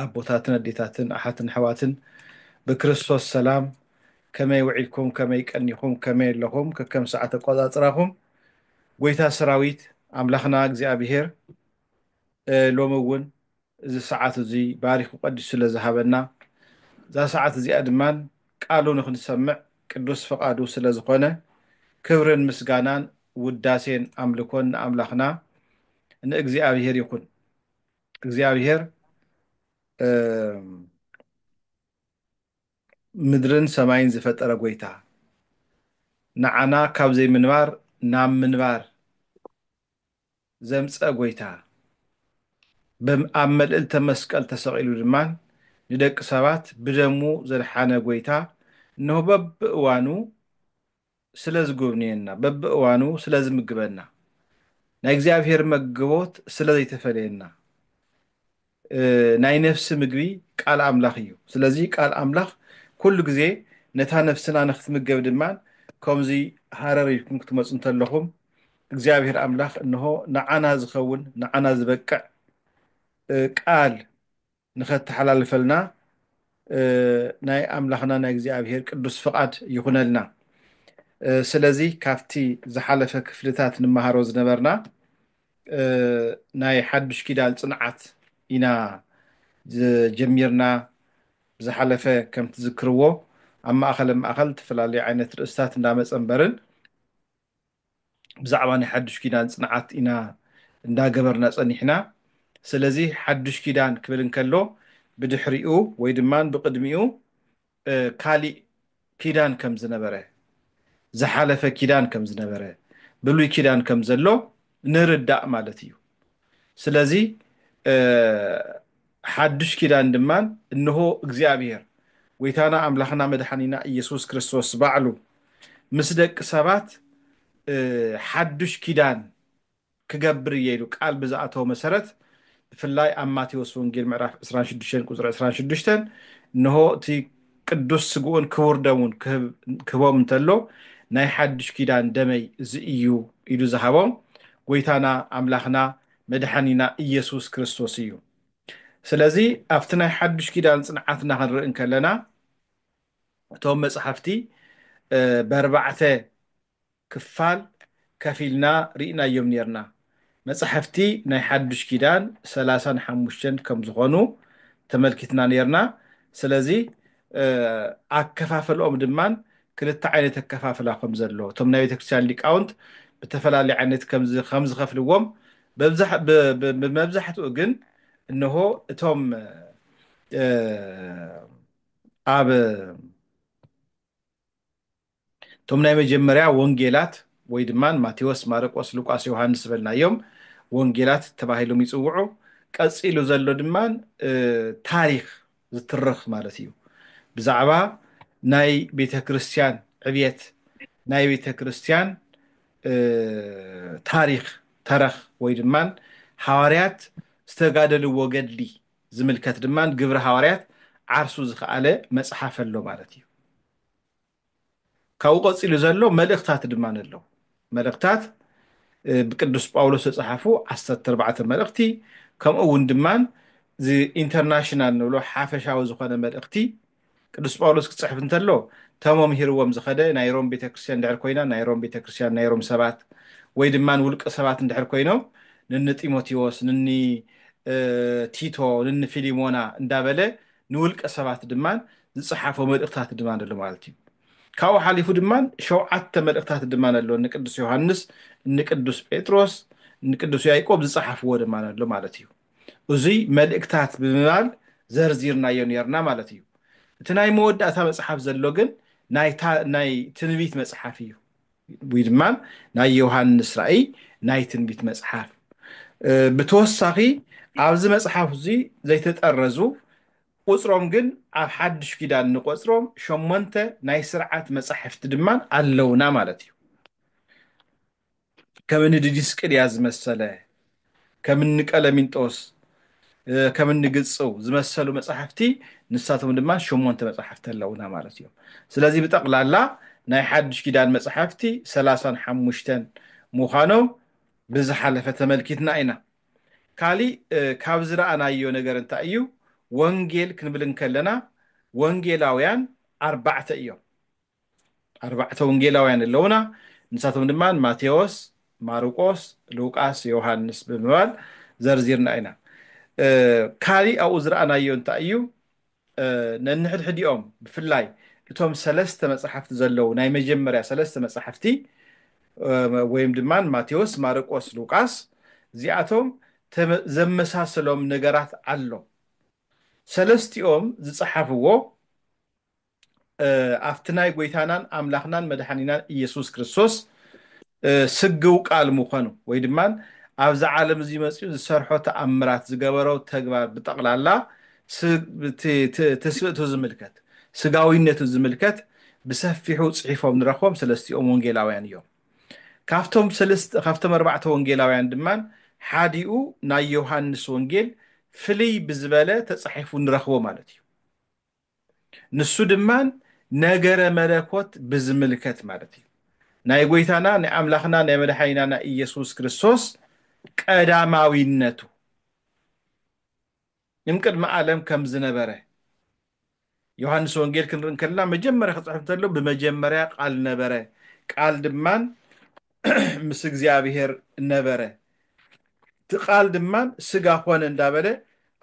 ኣቦታትን ኣዴታትን ኣሓትን ኣሕዋትን ብክርስቶስ ሰላም ከመይ ውዒልኩም ከመይ ቀኒኹም ከመይ ኣለኹም ከከም ሰዓት ኣቆፃፅራኹም ጎይታ ሰራዊት ኣምላኽና እግዚኣብሄር ሎሚ እውን እዚ ሰዓት እዙይ ባሪኹ ቀዲሱ ስለ ዝሃበና እዛ ሰዓት እዚኣ ድማ ቃሉ ንክንሰምዕ ቅዱስ ፍቓዱ ስለ ዝኾነ ክብርን ምስጋናን ውዳሴን ኣምልኮን ንኣምላኽና ንእግዚኣብሄር ይኹን። እግዚኣብሄር ምድርን ሰማይን ዝፈጠረ ጎይታ ንዓና ካብ ዘይምንባር ናብ ምንባር ዘምፀ ጎይታ ኣብ መልእልተ መስቀል ተሰቂሉ ድማ ንደቂ ሰባት ብደሙ ዘድሓነ ጎይታ እነሆ በብእዋኑ ስለ ዝጉብንየና በብእዋኑ ስለ ዝምግበና ናይ እግዚኣብሔር መግቦት ስለ ዘይተፈለየና ናይ ነፍሲ ምግቢ ቃል ኣምላኽ እዩ ስለዚ ቃል ኣምላኽ ኩሉ ግዜ ነታ ነፍስና ንክትምገብ ድማ ከምዚ ሃረር ኢልኩም ክትመፁ እንተለኹም እግዚኣብሔር ኣምላኽ እንሆ ንዓና ዝኸውን ንዓና ዝበቅዕ ቃል ንኸተሓላልፈልና ናይ ኣምላኽና ናይ እግዚኣብሔር ቅዱስ ፍቓድ ይኹነልና። ስለዚ ካብቲ ዝሓለፈ ክፍልታት ንመሃሮ ዝነበርና ናይ ሓዱሽ ኪዳን ጽንዓት ኢና ጀሚርና። ብዝሓለፈ ከም ትዝክርዎ ኣብ ማእኸለ ማእኸል እተፈላለዩ ዓይነት ርእስታት እንዳመጸ እምበርን፣ ብዛዕባ ናይ ሓዱሽ ኪዳን ጽንዓት ኢና እንዳገበርና ጸኒሕና ስለዚ ሓዱሽ ኪዳን ክብል እንከሎ ብድሕሪኡ ወይ ድማ ብቅድሚኡ ካሊእ ኪዳን ከም ዝነበረ ዝሓለፈ ኪዳን ከም ዝነበረ ብሉይ ኪዳን ከም ዘሎ ንርዳእ ማለት እዩ። ስለዚ ሓዱሽ ኪዳን ድማ እንሆ እግዚኣብሔር ጐይታና ኣምላኽና መድኃኒና ኢየሱስ ክርስቶስ ባዕሉ ምስ ደቂ ሰባት ሓዱሽ ኪዳን ክገብር እየ ኢሉ ቃል ብዝኣተወ መሰረት ብፍላይ ኣብ ማቴዎስ ወንጌል ምዕራፍ 26 ቁፅሪ 26 እንሆ እቲ ቅዱስ ስግኡን ክቡር ደሙን ክህቦም እንተሎ ናይ ሓዱሽ ኪዳን ደመይ እዚ እዩ ኢሉ ዝሃቦም ጎይታና ኣምላኽና መድሓኒና ኢየሱስ ክርስቶስ እዩ። ስለዚ ኣብቲ ናይ ሓዱሽ ኪዳን ጽንዓትና ክንርኢ እንከለና እቶም መጽሓፍቲ በርባዕተ ክፋል ከፊልና ርኢናዮም ኔርና። መጻሕፍቲ ናይ ሓዱሽ ኪዳን ሰላሳን ሓሙሽተን ከም ዝኾኑ ተመልኪትና ኔርና። ስለዚ ኣከፋፍልኦም ድማ ክልተ ዓይነት ኣከፋፍላ ከም ዘሎ እቶም ናይ ቤተክርስትያን ሊቃውንት ብተፈላለየ ዓይነት ከም ዝኸፍልዎም ብመብዛሕትኡ ግን እነሆ እቶም ኣብ እቶም ናይ መጀመርያ ወንጌላት ወይ ድማ ማቴዎስ፣ ማርቆስ፣ ሉቃስ፣ ዮሃንስ ዝበልናዮም ወንጌላት ተባሂሎም ይጽውዑ። ቀጺሉ ዘሎ ድማ ታሪኽ ዝትርኽ ማለት እዩ። ብዛዕባ ናይ ቤተ ክርስቲያን ዕብየት፣ ናይ ቤተ ክርስቲያን ታሪኽ ተረኽ ወይ ድማ ሃዋርያት ዝተጋደልዎ ገድሊ ዝምልከት ድማ ግብሪ ሃዋርያት ዓርሱ ዝኸኣለ መጽሓፍ ኣሎ ማለት እዩ። ካብኡ ቀጺሉ ዘሎ መልእኽታት ድማ ኣለዉ። መልእኽታት ብቅዱስ ጳውሎስ ዝተጻሕፉ ዓሰርተ ኣርባዕተ መልእኽቲ ከምኡ እውን ድማ ኢንተርናሽናል ንብሎ ሓፈሻዊ ዝኾነ መልእኽቲ ቅዱስ ጳውሎስ ክጽሕፍ እንተሎ ተመምሂርዎም ዝኸደ ናይ ሮም ቤተ ክርስቲያን ድሕር ኮይና ናይ ሮም ቤተ ክርስቲያን ናይ ሮም ሰባት ወይ ድማ ውልቀ ሰባት እንድሕር ኮይኖም ንኒ ጢሞቴዎስ ንኒ ቲቶ ንኒ ፊሊሞና እንዳበለ ንውልቀ ሰባት ድማ ዝጸሓፎ መልእኽታት ድማ ኣሎ ማለት እዩ። ካብኡ ሓሊፉ ድማ ሸውዓተ መልእኽታት ድማ ኣሎ ንቅዱስ ዮሃንስ፣ ንቅዱስ ጴጥሮስ፣ ንቅዱስ ያዕቆብ ዝጸሓፍዎ ድማ ኣሎ ማለት እዩ። እዙይ መልእክታት ብምባል ዘርዚርናዮ ነርና ማለት እዩ። እቲ ናይ መወዳእታ መጽሓፍ ዘሎ ግን ናይታ ናይ ትንቢት መጽሓፍ እዩ ወይ ድማ ናይ ዮሃንስ ራእይ ናይ ትንቢት መጽሓፍ ብተወሳኺ ኣብዚ መጽሓፍ እዚ ዘይተጠረዙ ቁጽሮም ግን ኣብ ሓድሽ ኪዳን ንቆጽሮም ሸሞንተ ናይ ስርዓት መጻሕፍቲ ድማ ኣለውና ማለት እዩ። ከም እኒ ዲዲስቅልያ ዝመሰለ፣ ከም እኒ ቀለሚንጦስ፣ ከም እኒ ግጽው ዝመሰሉ መጻሕፍቲ ንሳቶም ድማ ሸሞንተ መጻሕፍቲ ኣለውና ማለት እዮም። ስለዚ ብጠቕላላ ናይ ሓድሽ ኪዳን መጻሕፍቲ ሰላሳን ሓሙሽተን ምዃኖም ብዝሓለፈ ተመልኪትና ኢና። ካሊእ ካብ ዝረኣናዮ ነገር እንታይ እዩ ወንጌል ክንብል እንከለና ወንጌላውያን ኣርባዕተ እዮም ኣርባዕተ ወንጌላውያን ኣለውና ንሳቶም ድማ ማቴዎስ ማርቆስ ሉቃስ ዮሃንስ ብምባል ዘርዚርና ኢና ካሊእ ኣብኡ ዝረኣናዮ እንታይ እዩ ነንሕድሕዲኦም ብፍላይ እቶም ሰለስተ መጻሕፍቲ ዘለዉ ናይ መጀመርያ ሰለስተ መጻሕፍቲ ወይም ድማ ማቴዎስ፣ ማርቆስ፣ ሉቃስ እዚኣቶም ዘመሳስሎም ነገራት ኣሎ። ሰለስቲኦም ዝጸሓፍዎ ኣብቲ ናይ ጎይታናን ኣምላኽናን መድሓኒናን ኢየሱስ ክርስቶስ ስግው ቃል ምኾኑ ወይ ድማ ኣብዚ ዓለም እዚ መጺኡ ዝሰርሖ ተኣምራት ዝገበሮ ተግባር ብጠቕላላ ትስብእቱ ዝምልከት ስጋዊነቱ ዝምልከት ብሰፊሑ ጽሒፎም ንረኽቦም ሰለስቲኦም ወንጌላውያን እዮም። ካብቶም ሰለስተ ካብቶም ኣርባዕተ ወንጌላውያን ድማ ሓዲኡ ናይ ዮሃንስ ወንጌል ፍልይ ብዝበለ ተጻሒፉ ንረኽቦ ማለት እዩ። ንሱ ድማ ነገረ መለኮት ብዝምልከት ማለት እዩ። ናይ ጎይታና ናይ ኣምላኽና ናይ መድሓኒና ናይ ኢየሱስ ክርስቶስ ቀዳማዊነቱ እምቅድሚ ዓለም ከም ዝነበረ ዮሐንስ ወንጌል ክንርኢ እንከለና መጀመርያ ክጽሕፍ እንተሎ ብመጀመርያ ቃል ነበረ ቃል ድማን ምስ እግዚኣብሔር ነበረ እቲ ቃል ድማ ስጋ ኮነ እንዳበለ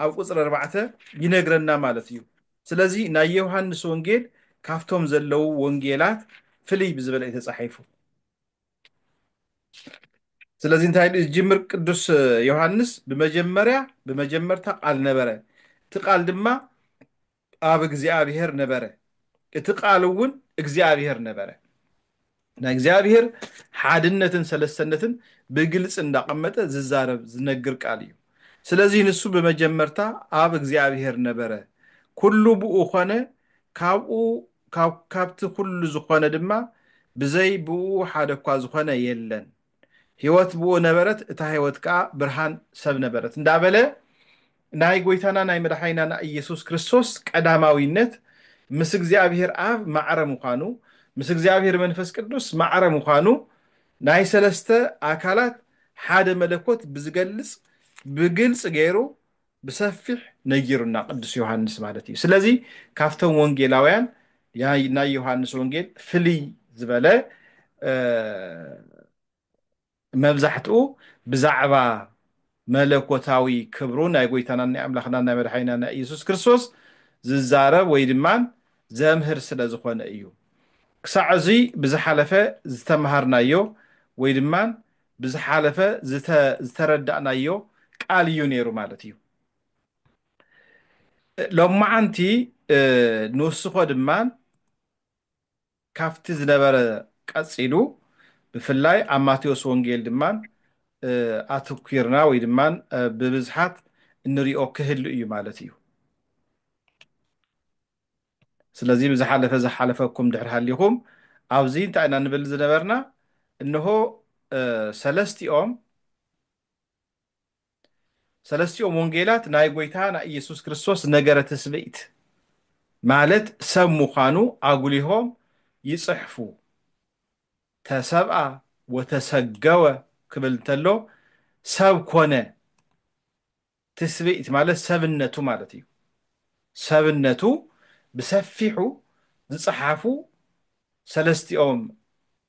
ኣብ ቁፅሪ ኣርባዕተ ይነግረና ማለት እዩ ስለዚ ናይ ዮሃንስ ወንጌል ካብቶም ዘለው ወንጌላት ፍልይ ብዝበለ እዩ ተፃሒፉ ስለዚ እንታይ ኢሉ ዝጅምር ቅዱስ ዮሃንስ ብመጀመርያ ብመጀመርታ ቃል ነበረ እቲ ቃል ድማ ቃብ እግዚኣብሔር ነበረ እቲ ቃል እውን እግዚኣብሔር ነበረ ናይ እግዚኣብሔር ሓድነትን ሰለሰነትን ብግልፂ እንዳቐመጠ ዝዛረብ ዝነግር ቃል እዩ ስለዚህ ንሱ ብመጀመርታ ኣብ እግዚኣብሔር ነበረ ኩሉ ብኡ ኮነ ካብኡ ካብቲ ኩሉ ዝኾነ ድማ ብዘይ ብኡ ሓደ እኳ ዝኾነ የለን ሕይወት ብኡ ነበረት፣ እታ ሕይወት ከኣ ብርሃን ሰብ ነበረት እንዳበለ ናይ ጐይታና ናይ መድሓኒና ናይ ኢየሱስ ክርስቶስ ቀዳማዊነት ምስ እግዚኣብሔር ኣብ ማዕረ ምዃኑ ምስ እግዚኣብሔር መንፈስ ቅዱስ ማዕረ ምዃኑ ናይ ሰለስተ ኣካላት ሓደ መለኮት ብዝገልጽ ብግልጽ ገይሩ ብሰፊሕ ነጊሩና ቅዱስ ዮሃንስ ማለት እዩ ስለዚ ካብቶም ወንጌላውያን ናይ ዮሃንስ ወንጌል ፍልይ ዝበለ መብዛሕትኡ ብዛዕባ መለኮታዊ ክብሩ ናይ ጎይታና ናይ ኣምላኽና ናይ መድሓኒና ናይ ኢየሱስ ክርስቶስ ዝዛረብ ወይ ድማ ዘምህር ስለ ዝኾነ እዩ ክሳዕ እዙይ ብዝሓለፈ ዝተምሃርናዮ ወይ ድማ ብዝሓለፈ ዝተረዳእናዮ ቃል እዩ ነይሩ ማለት እዩ። ሎማዓንቲ ንውስኮ ድማ ካብቲ ዝነበረ ቀፂሉ ብፍላይ ኣብ ማቴዎስ ወንጌል ድማ ኣትኲርና ወይ ድማ ብብዝሓት እንሪኦ ክህሉ እዩ ማለት እዩ። ስለዚ ብዝሓለፈ ዝሓለፈኩም ድሕሪ ሃሊኹም ኣብዚ እንታይ ኢና ንብል ዝነበርና እንሆ ሰለስቲኦም ሰለስቲኦም ወንጌላት ናይ ጎይታ ናይ ኢየሱስ ክርስቶስ ነገረ ትስብእት ማለት ሰብ ምዃኑ ኣጉሊሆም ይጽሕፉ ተሰብኣ ወተሰገወ ክብል እንተሎ ሰብ ኮነ ትስብእት ማለት ሰብነቱ ማለት እዩ። ሰብነቱ ብሰፊሑ ዝጸሓፉ ሰለስቲኦም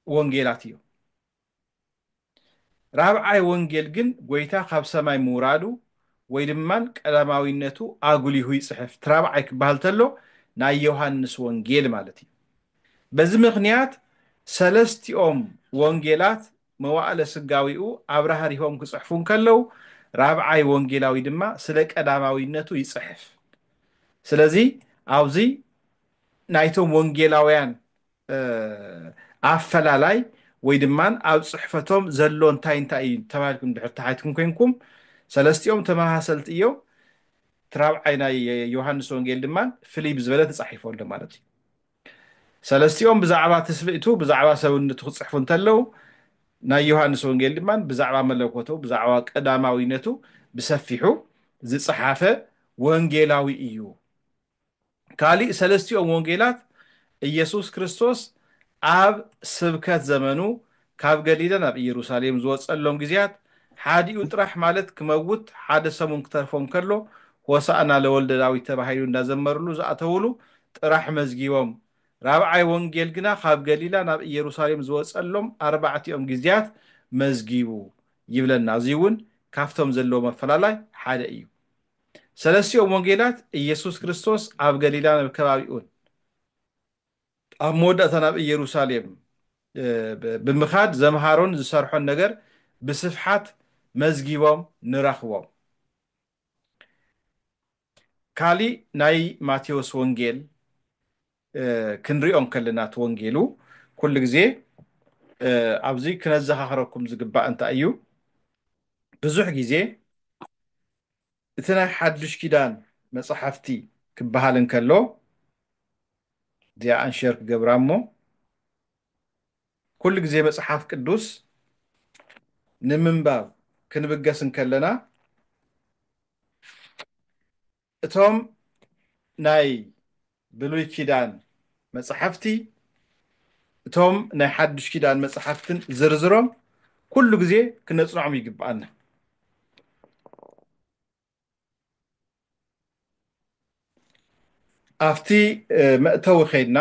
ወንጌላት እዮም። ራብዓይ ወንጌል ግን ጎይታ ካብ ሰማይ ምውራዱ ወይ ድማን ቀዳማዊነቱ ኣጉሊሁ ይጽሕፍ። እቲ ራብዓይ ክበሃል ተሎ ናይ ዮሃንስ ወንጌል ማለት እዩ። በዚ ምክንያት ሰለስቲኦም ወንጌላት መዋእለ ስጋዌኡ ኣብራህሪሆም ክጽሕፉ እንከለው ራብዓይ ወንጌላዊ ድማ ስለ ቀዳማዊነቱ ይጽሕፍ ስለዚ ኣብዚ ናይቶም ወንጌላውያን ኣፈላላይ ወይ ድማ ኣብ ጽሕፈቶም ዘሎ እንታይ እንታይ እዩ ተባሂልኩም ድሕር ተሓትኩም ኮይንኩም ሰለስቲኦም ተመሳሰልቲ እዮም እቲ ራብዓይ ናይ ዮሃንስ ወንጌል ድማ ፍልይ ብዝበለ ተጻሒፎ ኣሎ ማለት እዩ ሰለስቲኦም ብዛዕባ ትስብእቱ፣ ብዛዕባ ሰብነቱ ክጽሕፉ እንተለዉ፣ ናይ ዮሃንስ ወንጌል ድማ ብዛዕባ መለኮቱ፣ ብዛዕባ ቀዳማዊነቱ ብሰፊሑ ዝጸሓፈ ወንጌላዊ እዩ። ካልእ ሰለስቲኦም ወንጌላት ኢየሱስ ክርስቶስ ኣብ ስብከት ዘመኑ ካብ ገሊላ ናብ ኢየሩሳሌም ዝወጸሎም ግዜያት ሓዲኡ ጥራሕ ማለት ክመውት ሓደ ሰሙን ክተርፎ እንከሎ ሆሣእና ለወልደ ዳዊት ተባሂሉ እንዳዘመርሉ ዝኣተውሉ ጥራሕ መዝጊቦም ራብዓይ ወንጌል ግና ካብ ገሊላ ናብ ኢየሩሳሌም ዝወጸሎም ኣርባዕቲኦም ግዜያት መዝጊቡ ይብለና እዚውን ካብቶም ዘለዎም ኣፈላላይ ሓደ እዩ ሰለስቲኦም ወንጌላት ኢየሱስ ክርስቶስ ኣብ ገሊላን ኣብ ከባቢኡን ኣብ መወዳእታ ናብ ኢየሩሳሌም ብምኻድ ዘምሃሮን ዝሰርሖን ነገር ብስፍሓት መዝጊቦም ንረኽቦም። ካሊእ ናይ ማቴዎስ ወንጌል ክንሪኦ እንከለና እቲ ወንጌሉ ኩሉ ግዜ ኣብዚ ክነዘኻኽረኩም ዝግባእ እንታይ እዩ ብዙሕ ግዜ እቲ ናይ ሓዱሽ ኪዳን መጻሕፍቲ ክበሃል እንከሎ እዚኣ ኣንሸር ክገብራ እሞ ኩሉ ግዜ መጽሓፍ ቅዱስ ንምንባብ ክንብገስ እንከለና እቶም ናይ ብሉይ ኪዳን መፃሕፍቲ እቶም ናይ ሓዱሽ ኪዳን መፃሕፍትን ዝርዝሮም ኩሉ ግዜ ክነፅንዖም ይግብኣና። ኣብቲ መእተዊ ከይድና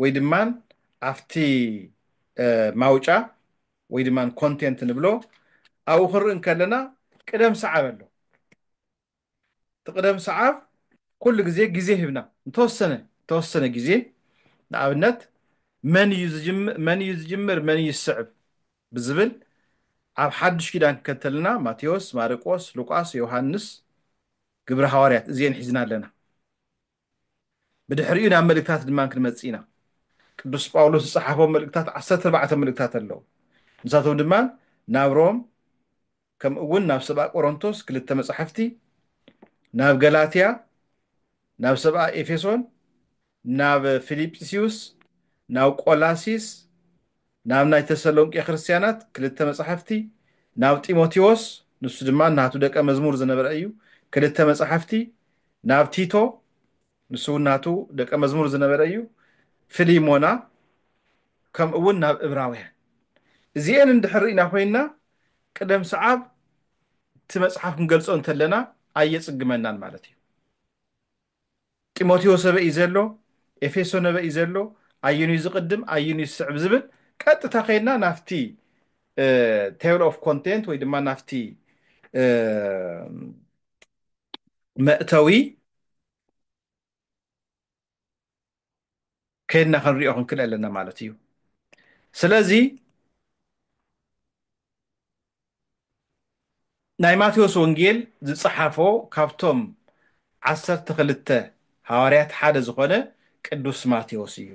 ወይ ድማ ኣብቲ ማውጫ ወይ ድማ ኮንቴንት ንብሎ ኣብኡ ክንርኢ ከለና ቅደም ሰዓብ ኣሎ። እቲ ቅደም ሰዓብ ኩሉ ግዜ ግዜ ሂብና ንተወሰነ ተወሰነ ግዜ ንኣብነት መን እዩ ዝጅምር መን እዩ ዝጅምር መን እዩ ዝስዕብ ብዝብል ኣብ ሓዱሽ ኪዳን ክከተልና ማቴዎስ ማርቆስ ሉቃስ ዮሃንስ ግብረ ሃዋርያት እዚኤን ሒዝና ኣለና። ብድሕሪኡ ናብ መልእክታት ድማ ክንመጽእ ኢና። ቅዱስ ጳውሎስ ዝጸሓፎም መልእክታት ዓሰርተ ኣርባዕተ መልእክታት ኣለዉ። ንሳቶም ድማ ናብ ሮም ከምኡ እውን ናብ ሰብኣ ቆሮንቶስ ክልተ መጻሕፍቲ፣ ናብ ገላትያ፣ ናብ ሰብኣ ኤፌሶን፣ ናብ ፊልጵስዩስ፣ ናብ ቆላሲስ፣ ናብ ናይ ተሰሎንቄ ክርስትያናት ክልተ መጻሕፍቲ፣ ናብ ጢሞቴዎስ ንሱ ድማ ናቱ ደቀ መዝሙር ዝነበረ እዩ ክልተ መጻሕፍቲ፣ ናብ ቲቶ ንሱ እውን ናቱ ደቀ መዝሙር ዝነበረ እዩ ፍሊሞና ከምኡ እውን ናብ እብራውያን እዚኤን እንድሕር ርኢና ኮይንና ቅደም ሰዓብ እቲ መጽሓፍ ክንገልጾ እንተለና ኣየጽግመናን ማለት እዩ። ጢሞቴዎስ ኣበይ እዩ ዘሎ፣ ኤፌሶን ኣበይ እዩ ዘሎ፣ ኣየንዩ ዝቕድም ኣየንዩ ዝስዕብ ዝብል ቀጥታ ከይድና ናብቲ ቴብል ኦፍ ኮንቴንት ወይ ድማ ናብቲ መእተዊ ከድና ክንሪኦ ክንክእል ኣለና ማለት እዩ ስለዚ ናይ ማቴዎስ ወንጌል ዝጸሓፎ ካብቶም ዓሰርተ ክልተ ሃዋርያት ሓደ ዝኾነ ቅዱስ ማቴዎስ እዩ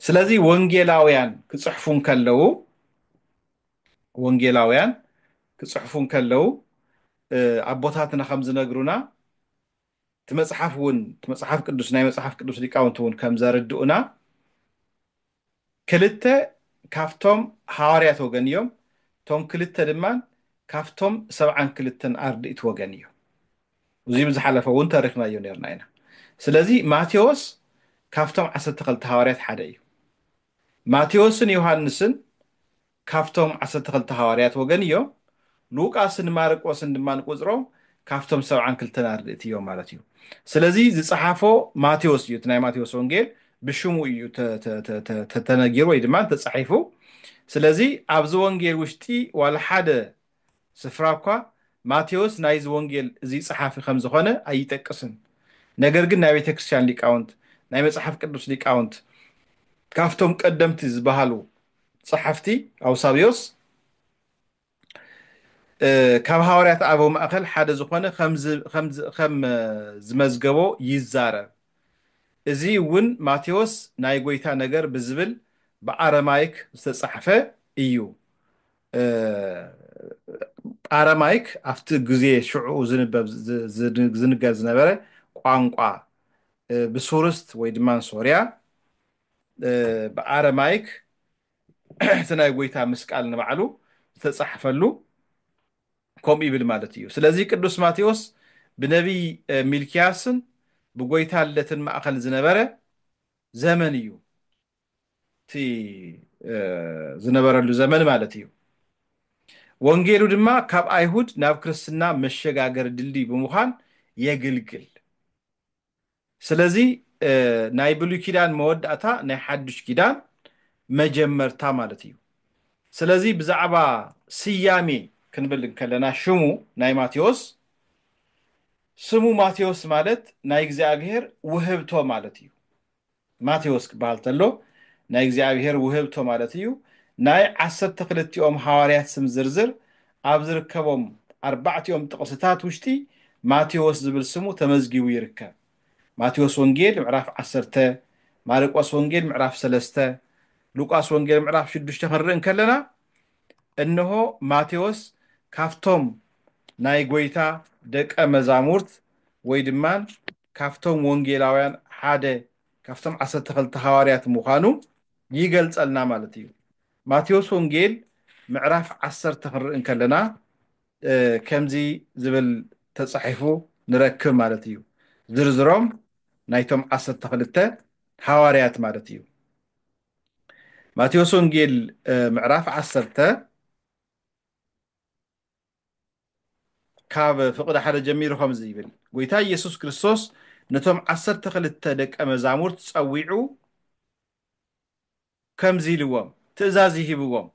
ስለዚ ወንጌላውያን ክጽሕፉ እንከለዉ ወንጌላውያን ክጽሕፉ እንከለዉ ኣቦታትና ከም ዝነግሩና እቲ መጽሓፍ እውን እቲ መጽሓፍ ቅዱስ ናይ መጽሓፍ ቅዱስ ሊቃውንቲ እውን ከም ዘርድኡና ክልተ ካብቶም ሃዋርያት ወገን እዮም እቶም ክልተ ድማ ካብቶም ሰብዓን ክልተን ኣርድእቲ ወገን እዮም እዚ ብዝሓለፈ እውን ተሪኽናዮ ነርና ኢና ስለዚ ማቴዎስ ካብቶም ዓሰርተ ክልተ ሃዋርያት ሓደ እዩ ማቴዎስን ዮሃንስን ካብቶም ዓሰርተ ክልተ ሃዋርያት ወገን ኢዮም፣ ሉቃስን ማርቆስን ድማ ንቁጽሮም ካብቶም ሰብዓን ክልተን ኣርድእቲ ኢዮም ማለት ኢዩ። ስለዚ ዝጸሓፎ ማቴዎስ ኢዩ፣ እቲ ናይ ማቴዎስ ወንጌል ብሽሙ ኢዩ ተነጊሩ ወይ ድማ ተጻሒፉ። ስለዚ ኣብዚ ወንጌል ውሽጢ ዋላ ሓደ ስፍራ እኳ ማቴዎስ ናይዚ ወንጌል እዚ ጸሓፊ ከም ዝዀነ ኣይጠቅስን፣ ነገር ግን ናይ ቤተ ክርስቲያን ሊቃውንት፣ ናይ መጽሓፍ ቅዱስ ሊቃውንት፣ ካብቶም ቀደምቲ ዝበሃሉ ጸሓፍቲ ኣውሳብዮስ ካብ ሃዋርያት ኣበው ማእከል ሓደ ዝዀነ ኸም ዝመዝገቦ ይዛረብ። እዚ እውን ማቴዎስ ናይ ጐይታ ነገር ብዝብል ብኣረማይክ ዝተጻሕፈ እዩ። ኣረማይክ ኣብቲ ግዜ ሽዕኡ ዝንበብ ዝንገር ዝነበረ ቋንቋ ብሱርስት ወይ ድማ ሶርያ ብኣረማይክ እቲ ናይ ጎይታ ምስቃል ንባዕሉ ዝተጻሕፈሉ ከምኡ ይብል ማለት እዩ። ስለዚ ቅዱስ ማቴዎስ ብነቢይ ሚልክያስን ብጎይታ ልደትን ማእከል ዝነበረ ዘመን እዩ። እቲ ዝነበረሉ ዘመን ማለት እዩ። ወንጌሉ ድማ ካብ ኣይሁድ ናብ ክርስትና መሸጋገሪ ድልድይ ብምዃን የግልግል። ስለዚ ናይ ብሉይ ኪዳን መወዳእታ ናይ ሓዱሽ ኪዳን መጀመርታ ማለት እዩ። ስለዚ ብዛዕባ ስያሜ ክንብል እንከለና ሽሙ ናይ ማቴዎስ ስሙ ማቴዎስ ማለት ናይ እግዚኣብሔር ውህብቶ ማለት እዩ። ማቴዎስ ክበሃል ተሎ ናይ እግዚኣብሔር ውህብቶ ማለት እዩ ናይ ዓሰርተ ክልቲኦም ሃዋርያት ስም ዝርዝር ኣብ ዝርከቦም ኣርባዕቲኦም ጥቕስታት ውሽጢ ማቴዎስ ዝብል ስሙ ተመዝጊቡ ይርከብ ማቴዎስ ወንጌል ምዕራፍ ዓሰርተ ማርቆስ ወንጌል ምዕራፍ ሰለስተ ሉቃስ ወንጌል ምዕራፍ ሽዱሽተ ክንርኢ እንከለና እነሆ ማቴዎስ ካፍቶም ናይ ጎይታ ደቀ መዛሙርት ወይ ድማ ካብቶም ወንጌላውያን ሓደ ካብቶም ዓሰርተ ክልተ ሃዋርያት ምዃኑ ይገልጸልና ማለት እዩ። ማቴዎስ ወንጌል ምዕራፍ ዓሰርተ ክንርኢ እንከለና ከምዚ ዝብል ተጻሒፉ ንረክብ ማለት እዩ። ዝርዝሮም ናይቶም ዓሰርተ ክልተ ሃዋርያት ማለት እዩ። ማቴዎስ ወንጌል ምዕራፍ ዓሰርተ ካብ ፍቕዲ ሓደ ጀሚሩ ከምዚ ይብል ጎይታ ኢየሱስ ክርስቶስ ነቶም ዓሰርተ ክልተ ደቀ መዛሙርት ጸዊዑ ከምዚ ኢልዎም ትእዛዝ ይሂብዎም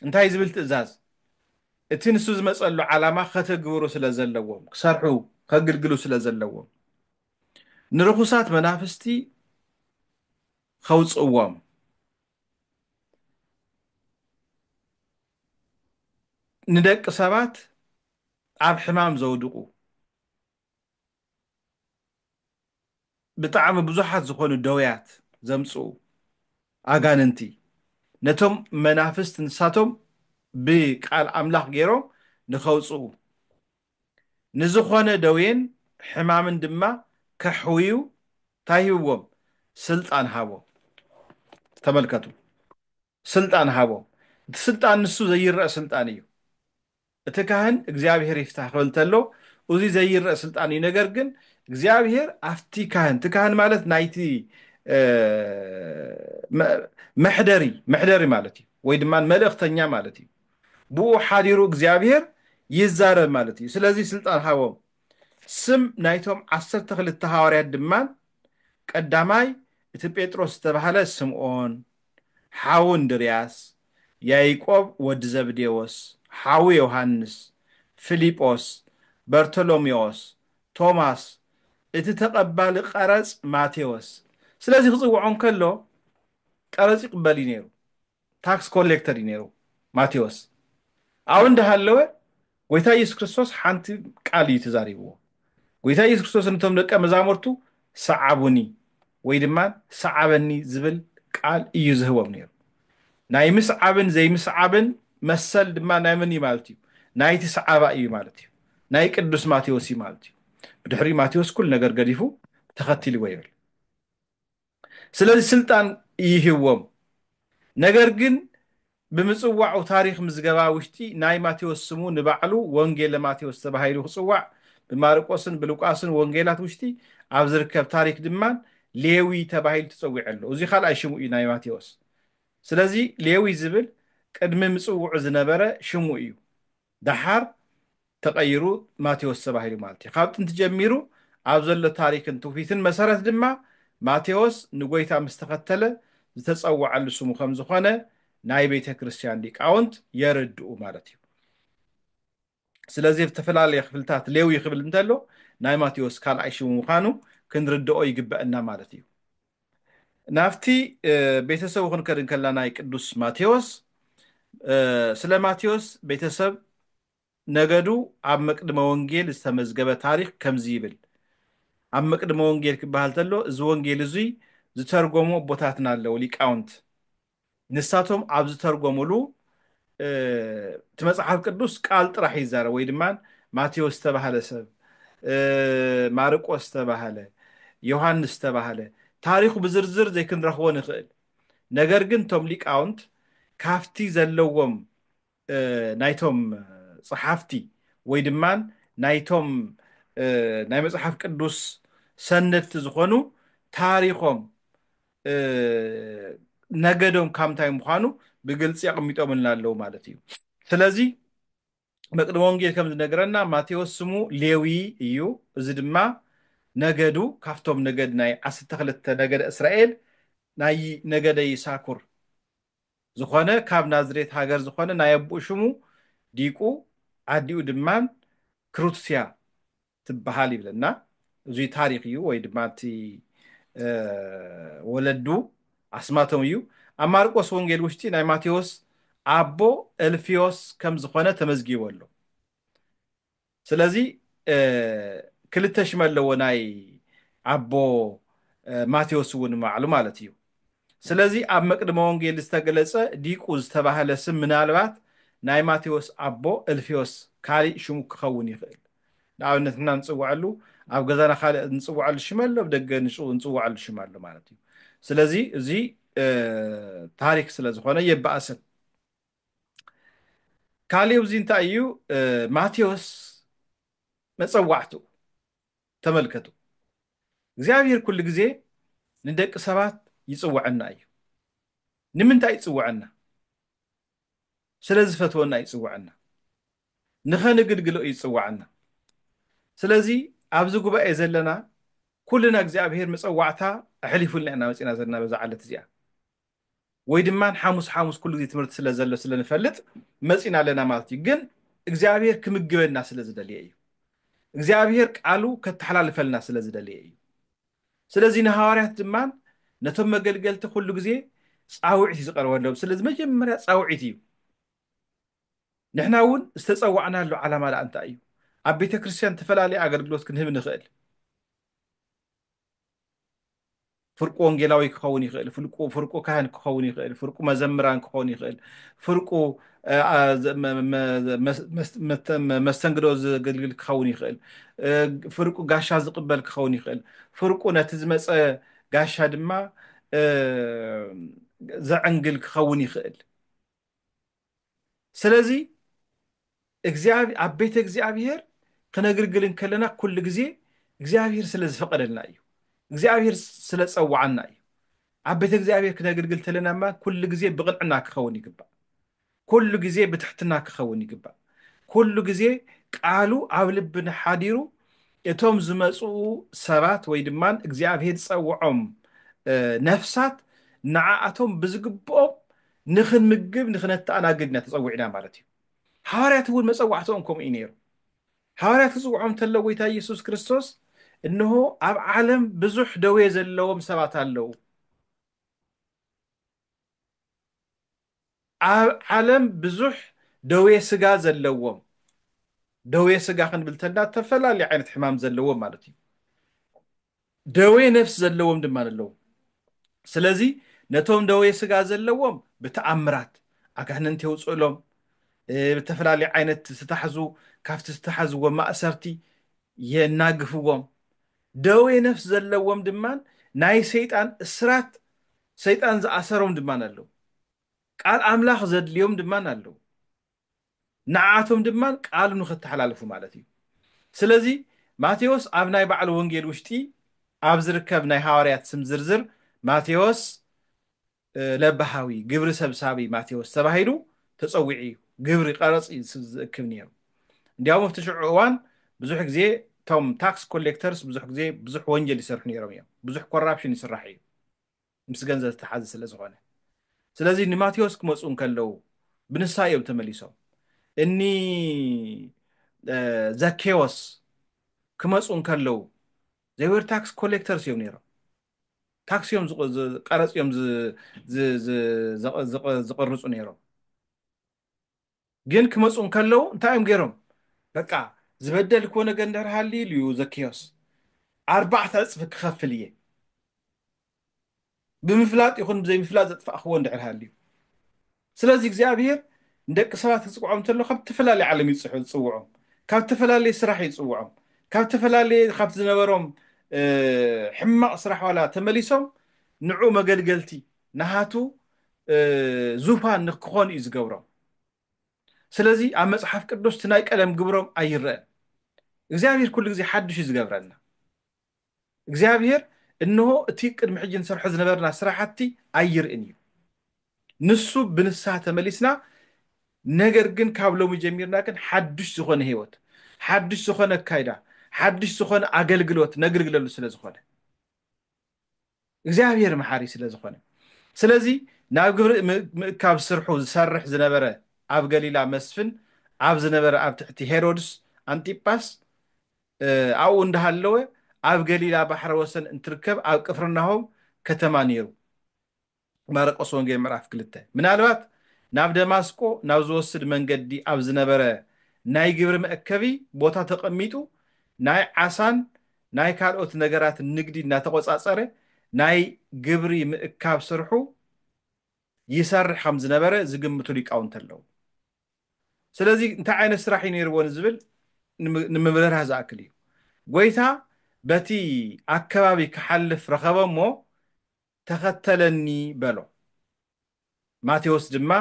እንታይ ዝብል ትእዛዝ እቲ ንሱ ዝመጸሉ ዓላማ ከተግብሩ ስለ ዘለዎም ክሰርሑ ከግልግሉ ስለ ዘለዎም ንርኹሳት መናፍስቲ ከውጽእዎም ንደቂ ሰባት ኣብ ሕማም ዘውድቁ ብጣዕሚ ብዙሓት ዝኾኑ ደውያት ዘምጽኡ ኣጋንንቲ ነቶም መናፍስት ንሳቶም ብቃል ኣምላኽ ገይሮም ንኸውጽኡ ንዝኾነ ደዌን ሕማምን ድማ ከሕውዩ ታይ ሂብዎም ስልጣን ሃቦም ተመልከቱ። ስልጣን ሃቦ። እቲ ስልጣን ንሱ ዘይረእ ስልጣን እዩ። እቲ ካህን እግዚኣብሔር ይፍታህ ክብል ተሎ ኡዚ ዘይረእ ስልጣን እዩ ነገር ግን እግዚኣብሔር ኣፍቲ ካህን እቲ ካህን ማለት ናይቲ መሕደሪ መሕደሪ ማለት እዩ ወይ ድማ መልእክተኛ ማለት እዩ ብኡ ሓዲሩ እግዚኣብሔር ይዛረብ ማለት እዩ ስለዚ ስልጣን ሃቦም ስም ናይቶም ዓሰርተ ክልተ ሃዋርያት ድማ ቀዳማይ እቲ ጴጥሮስ ዝተባህለ ስምዖን ሓው እንድርያስ፣ ያይቆብ ወዲ ዘብዴዎስ፣ ሓው ዮሃንስ፣ ፍሊጶስ፣ በርተሎሜዎስ፣ ቶማስ፣ እቲ ተቐባሊ ቀረጽ ማቴዎስ፣ ስለዚ ክጽውዖ እንከሎ ቀረጽ ይቕበል እዩ ነይሩ፣ ታክስ ኮሌክተር እዩ ነይሩ ማቴዎስ፣ ኣብኡ እንዳሃለወ ጎይታ ኢየሱስ ክርስቶስ ሓንቲ ቃል እዩ ተዛሪብዎ። ጎይታ ኢየሱስ ክርስቶስ ንቶም ደቀ መዛሙርቱ ሰዓቡኒ ወይ ድማ ሰዓበኒ ዝብል ቃል እዩ ዝህቦም ነይሩ። ናይ ምስዓብን ዘይምስዓብን መሰል ድማ ናይ መን እዩ ማለት እዩ? ናይቲ ሰዓባ እዩ ማለት እዩ። ናይ ቅዱስ ማቴዎስ እዩ ማለት እዩ። ብድሕሪኡ ማቴዎስ ኩሉ ነገር ገዲፉ ተኸቲልዎ ይብል። ስለዚ ስልጣን ይህቦም ነገር ግን ብምጽዋዑ ታሪኽ ምዝገባ ውሽጢ ናይ ማቴዎስ ስሙ ንባዕሉ ወንጌለ ማቴዎስ ተባሂሉ ክጽዋዕ ብማርቆስን ብሉቃስን ወንጌላት ውሽጢ ኣብ ዝርከብ ታሪክ ድማ ሌዊ ተባሂሉ ተጸዊዑ ኣሎ እዚ ካልኣይ ሽሙ እዩ ናይ ማቴዎስ ስለዚ ሌዊ ዝብል ቅድሚ ምጽውዑ ዝነበረ ሽሙ እዩ ደሓር ተቐይሩ ማቴዎስ ተባሂሉ ማለት እዩ። ካብ ጥንቲ ጀሚሩ ኣብ ዘሎ ታሪክን ትውፊትን መሰረት ድማ ማቴዎስ ንጐይታ ምስ ተኸተለ ዝተጸውዐሉ ስሙ ከም ዝኾነ ናይ ቤተ ክርስቲያን ሊቃውንት የረድኡ ማለት እዩ። ስለዚ ኣብ ዝተፈላለየ ክፍልታት ሌዊ ክብል እንተሎ ናይ ማቴዎስ ካልኣይ ሽሙ ምዃኑ ክንርድኦ ይግበእና ማለት እዩ። ናብቲ ቤተሰቡ ክንከድ እንከለና ናይ ቅዱስ ማቴዎስ ስለ ማቴዎስ ቤተሰብ ነገዱ ኣብ መቅድመ ወንጌል ዝተመዝገበ ታሪኽ ከምዚ ይብል ኣብ መቅድመ ወንጌል ክበሃል ተሎ እዚ ወንጌል እዙይ ዝተርጎሙ ኣቦታትና ኣለዉ ሊቃውንት ንሳቶም ኣብ ዝተርጎምሉ እቲ መጽሓፍ ቅዱስ ቃል ጥራሕ እዩ ዝዛረብ ወይ ድማ ማቴዎስ ዝተባህለ ሰብ ማርቆስ ዝተባህለ ዮሃንስ ዝተባህለ ታሪኹ ብዝርዝር ዘይክንረኽቦ ንኽእል ነገር ግን እቶም ሊቃውንት ካፍቲ ዘለዎም ናይቶም ጸሓፍቲ ወይ ድማ ናይቶም ናይ መጽሓፍ ቅዱስ ሰነድቲ ዝኾኑ ታሪኾም ነገዶም ካብ እንታይ ምዃኑ ብግልፂ ኣቕሚጦምልና ኣለዉ ማለት እዩ ስለዚ መቅደም ወንጌል ከም ዝነገረና ማቴዎስ ስሙ ሌዊ እዩ እዚ ድማ ነገዱ ካብቶም ነገድ ናይ ዓሰርተ ክልተ ነገደ እስራኤል ናይ ነገደ ይሳኩር ዝኾነ ካብ ናዝሬት ሃገር ዝኾነ ናይ ኣቡኡ ሽሙ ዲቁ ዓዲኡ ድማን ክሩትስያ ትብሃል ይብለና እዙይ ታሪኽ እዩ ወይ ድማ እቲ ወለዱ ኣስማቶም እዩ ኣብ ማርቆስ ወንጌል ውሽጢ ናይ ማቴዎስ ኣቦ እልፍዮስ ከም ዝኾነ ተመዝጊቡ ኣሎ ስለዚ ክልተ ሽም ኣለዎ ናይ ኣቦ ማቴዎስ እውን ንባዕሉ ማለት እዩ ስለዚ ኣብ መቅድመ ወንጌል ዝተገለጸ ዲቁ ዝተባህለ ስም ምናልባት ናይ ማቴዎስ ኣቦ እልፌዎስ ካሊእ ሽሙ ክኸውን ይኽእል ንኣብነት ንሕና ንጽውዐሉ ኣብ ገዛና ካልእ ንጽውዐሉ ሽም ኣሎ ኣብ ደገ ንጽውዐሉ ሽም ኣሎ ማለት እዩ ስለዚ እዚ ታሪክ ስለ ዝኾነ የባእስን ካሊእ ኣብዚ እንታይ እዩ ማቴዎስ መጸዋዕቱ ተመልከቱ እግዚኣብሔር ኩሉ ግዜ ንደቂ ሰባት ይጽውዐና እዩ ንምንታይ ይጽውዐና ስለ ዝፈትወና ይጽውዐና ንኸንግልግሎ እዩ ይጽውዐና ስለዚ ኣብዚ ጉባኤ ዘለና ኩልና እግዚኣብሔር መጸዋዕታ ኣሕሊፉልና ኢና መጺና ዘለና በዛ ዓለት እዚኣ ወይ ድማ ሓሙስ ሓሙስ ኩሉ ግዜ ትምህርቲ ስለ ዘሎ ስለ ንፈልጥ መጺና ኣለና ማለት እዩ ግን እግዚኣብሔር ክምግበና ስለ ዝደልየ እዩ እግዚኣብሔር ቃሉ ከተሓላልፈልና ስለ ዝደልየ እዩ ስለዚ ንሃዋርያት ድማ ነቶም መገልገልቲ ኩሉ ግዜ ጻውዒት እዩ ዝቐርበሎም ስለዚ መጀመርያ ጻውዒት እዩ ንሕና እውን ዝተጸዋዕናሉ ዓላማ ደኣ እንታይ እዩ ኣብ ቤተ ክርስቲያን ተፈላለየ ኣገልግሎት ክንህብ ንኽእል ፍርቁ ወንጌላዊ ክኸውን ይኽእል፣ ፍርቁ ካህን ክኸውን ይኽእል፣ ፍርቁ መዘምራን ክኸውን ይኽእል፣ ፍርቁ መስተንግዶ ዘገልግል ክኸውን ይኽእል፣ ፍርቁ ጋሻ ዝቕበል ክኸውን ይኽእል፣ ፍርቁ ነቲ ዝመፀ ጋሻ ድማ ዘዕንግል ክኸውን ይኽእል። ስለዚ እግዚኣብ ኣብ ቤተ እግዚኣብሔር ክነግልግል እንከለና ኩሉ ግዜ እግዚኣብሔር ስለ ዝፈቀደልና እዩ እግዚኣብሔር ስለ ጸዋዓና እዩ ኣብ ቤተ እግዚኣብሔር ክነግልግል ተለና እማ ኩሉ ግዜ ብቕንዕና ክኸውን ይግባእ ኩሉ ግዜ ብትሕትና ክኸውን ይግባእ ኩሉ ግዜ ቃሉ ኣብ ልብና ሓዲሩ እቶም ዝመጽኡ ሰባት ወይ ድማ እግዚኣብሔር ዝጸውዖም ነፍሳት ንዓኣቶም ብዝግብኦም ንኽንምግብ ንኽነተኣናግድ ኢና ተጸዊዕና ማለት እዩ። ሓዋርያት እውን መጸዋዕትኦም ከምኡ እዩ ነይሩ። ሓዋርያት ክጽውዖም እንተሎ ጎይታ ኢየሱስ ክርስቶስ እንሆ ኣብ ዓለም ብዙሕ ደዌ ዘለዎም ሰባት ኣለዉ ኣብ ዓለም ብዙሕ ደዌ ስጋ ዘለዎም ደዌ ስጋ ክንብል ተላ ተፈላለዩ ዓይነት ሕማም ዘለዎም ማለት እዩ ደዌ ነፍሲ ዘለዎም ድማ ኣለዉ። ስለዚ ነቶም ደዌ ስጋ ዘለዎም ብተኣምራት ኣጋንንቲ የውጽእሎም፣ ብተፈላለዩ ዓይነት ዝተታሕዙ ካብቲ ዝተታሓዝዎ ማእሰርቲ የናግፍዎም፣ ደዌ ነፍሲ ዘለዎም ድማ ናይ ሰይጣን እስራት ሰይጣን ዝኣሰሮም ድማ ኣለዉ፣ ቃል ኣምላኽ ዘድልዮም ድማ ኣለዉ። ንዓኣቶም ድማ ቃሉ ንኸተሓላልፉ ማለት እዩ። ስለዚ ማቴዎስ ኣብ ናይ ባዕሉ ወንጌል ውሽጢ ኣብ ዝርከብ ናይ ሃዋርያት ስም ዝርዝር ማቴዎስ ለባሃዊ፣ ግብሪ ሰብሳቢ ማቴዎስ ተባሂሉ ተጸዊዑ እዩ። ግብሪ ቀረጽ እዩ ዝእክብ ነይሩ። እንዲያውም ኣብቲ ሽዑ እዋን ብዙሕ ግዜ እቶም ታክስ ኮሌክተርስ ብዙሕ ግዜ ብዙሕ ወንጀል ይሰርሑ ነይሮም እዮም። ብዙሕ ኮራፕሽን ይስራሕ እዩ። ምስ ገንዘብ ዝተሓዘ ስለ ዝኾነ ስለዚ ንማቴዎስ ክመፁ እንከለዉ ብንሳ እዮም ተመሊሶም እኒ ዘኬዎስ ክመፁ እንከለዉ ዘይወር ታክስ ኮሌክተርስ እዮም ነይሮም ታክሲ እዮም ቀረፅ እዮም ዝቕርፁ ነይሮም ግን ክመጹ እንከለዉ እንታይ እዮም ገይሮም በቃ ዝበደልክዎ ነገር እንድሕር ሃልዩ ኢሉ እዩ ዘኪዮስ ኣርባዕተ ዕጽፊ ክኸፍል እየ ብምፍላጥ ይኹን ብዘይምፍላጥ ዘጥፋእክዎ እንድሕር ሃልዩ ስለዚ እግዚኣብሄር ንደቂ ሰባት ክፅውዖም እንተሎ ካብ ዝተፈላለየ ዓለም እዩ ዝፅሑ- ዝፅውዖም ካብ ዝተፈላለየ ስራሕ እዩ ዝፅውዖም ካብ ዝተፈላለየ ካብቲ ዝነበሮም እ፣ ሕማቕ ስራሕ ዋላ ተመሊሶም ንዑ መገልገልቲ ናሃቱ ዙፋን ንክኾኑ እዩ ዝገብሮም ስለዚ ኣብ መጽሓፍ ቅዱስ እቲ ናይ ቀደም ግብሮም ኣይረአን እግዚኣብሔር ኩሉ ግዜ ሓድሽ እዩ ዝገብረልና እግዚኣብሔር እንሆ እቲ ቅድሚ ሕጂ ንሰርሖ ዝነበርና ስራሕቲ ኣይርእን እዩ ንሱ ብንስሓ ተመሊስና ነገር ግን ካብ ሎሚ ጀሚርና ግን ሓድሽ ዝኾነ ህይወት ሓድሽ ዝኾነ ኣካይዳ ሓድሽ ዝኾነ ኣገልግሎት ነግልግለሉ ስለ ዝኾነ እግዚኣብሔር መሓሪ ስለ ዝኾነ ስለዚ ናብ ግብሪ ምእካብ ስርሑ ዝሰርሕ ዝነበረ ኣብ ገሊላ መስፍን ኣብ ዝነበረ ኣብ ትሕቲ ሄሮድስ ኣንጢጳስ ኣብኡ እንዳሃለወ ኣብ ገሊላ ባሕረ ወሰን እንትርከብ ኣብ ቅፍርናሆም ከተማ ነይሩ ማርቆስ ወንጌል ምዕራፍ ክልተ ምናልባት ናብ ደማስቆ ናብ ዝወስድ መንገዲ ኣብ ዝነበረ ናይ ግብሪ መእከቢ ቦታ ተቐሚጡ ናይ ዓሳን ናይ ካልኦት ነገራትን ንግዲ እናተቖጻጸረ ናይ ግብሪ ምእካብ ስርሑ ይሰርሕ ከም ዝነበረ ዝግምቱ ሊቃውንቲ ኣለዉ። ስለዚ እንታይ ዓይነት ስራሕ እዩ ነይርዎ ንዝብል ንምብርራህ ዝኣክል እዩ። ጐይታ በቲ ኣከባቢ ክሓልፍ ረኸበ እሞ ተኸተለኒ በሎ። ማቴዎስ ድማ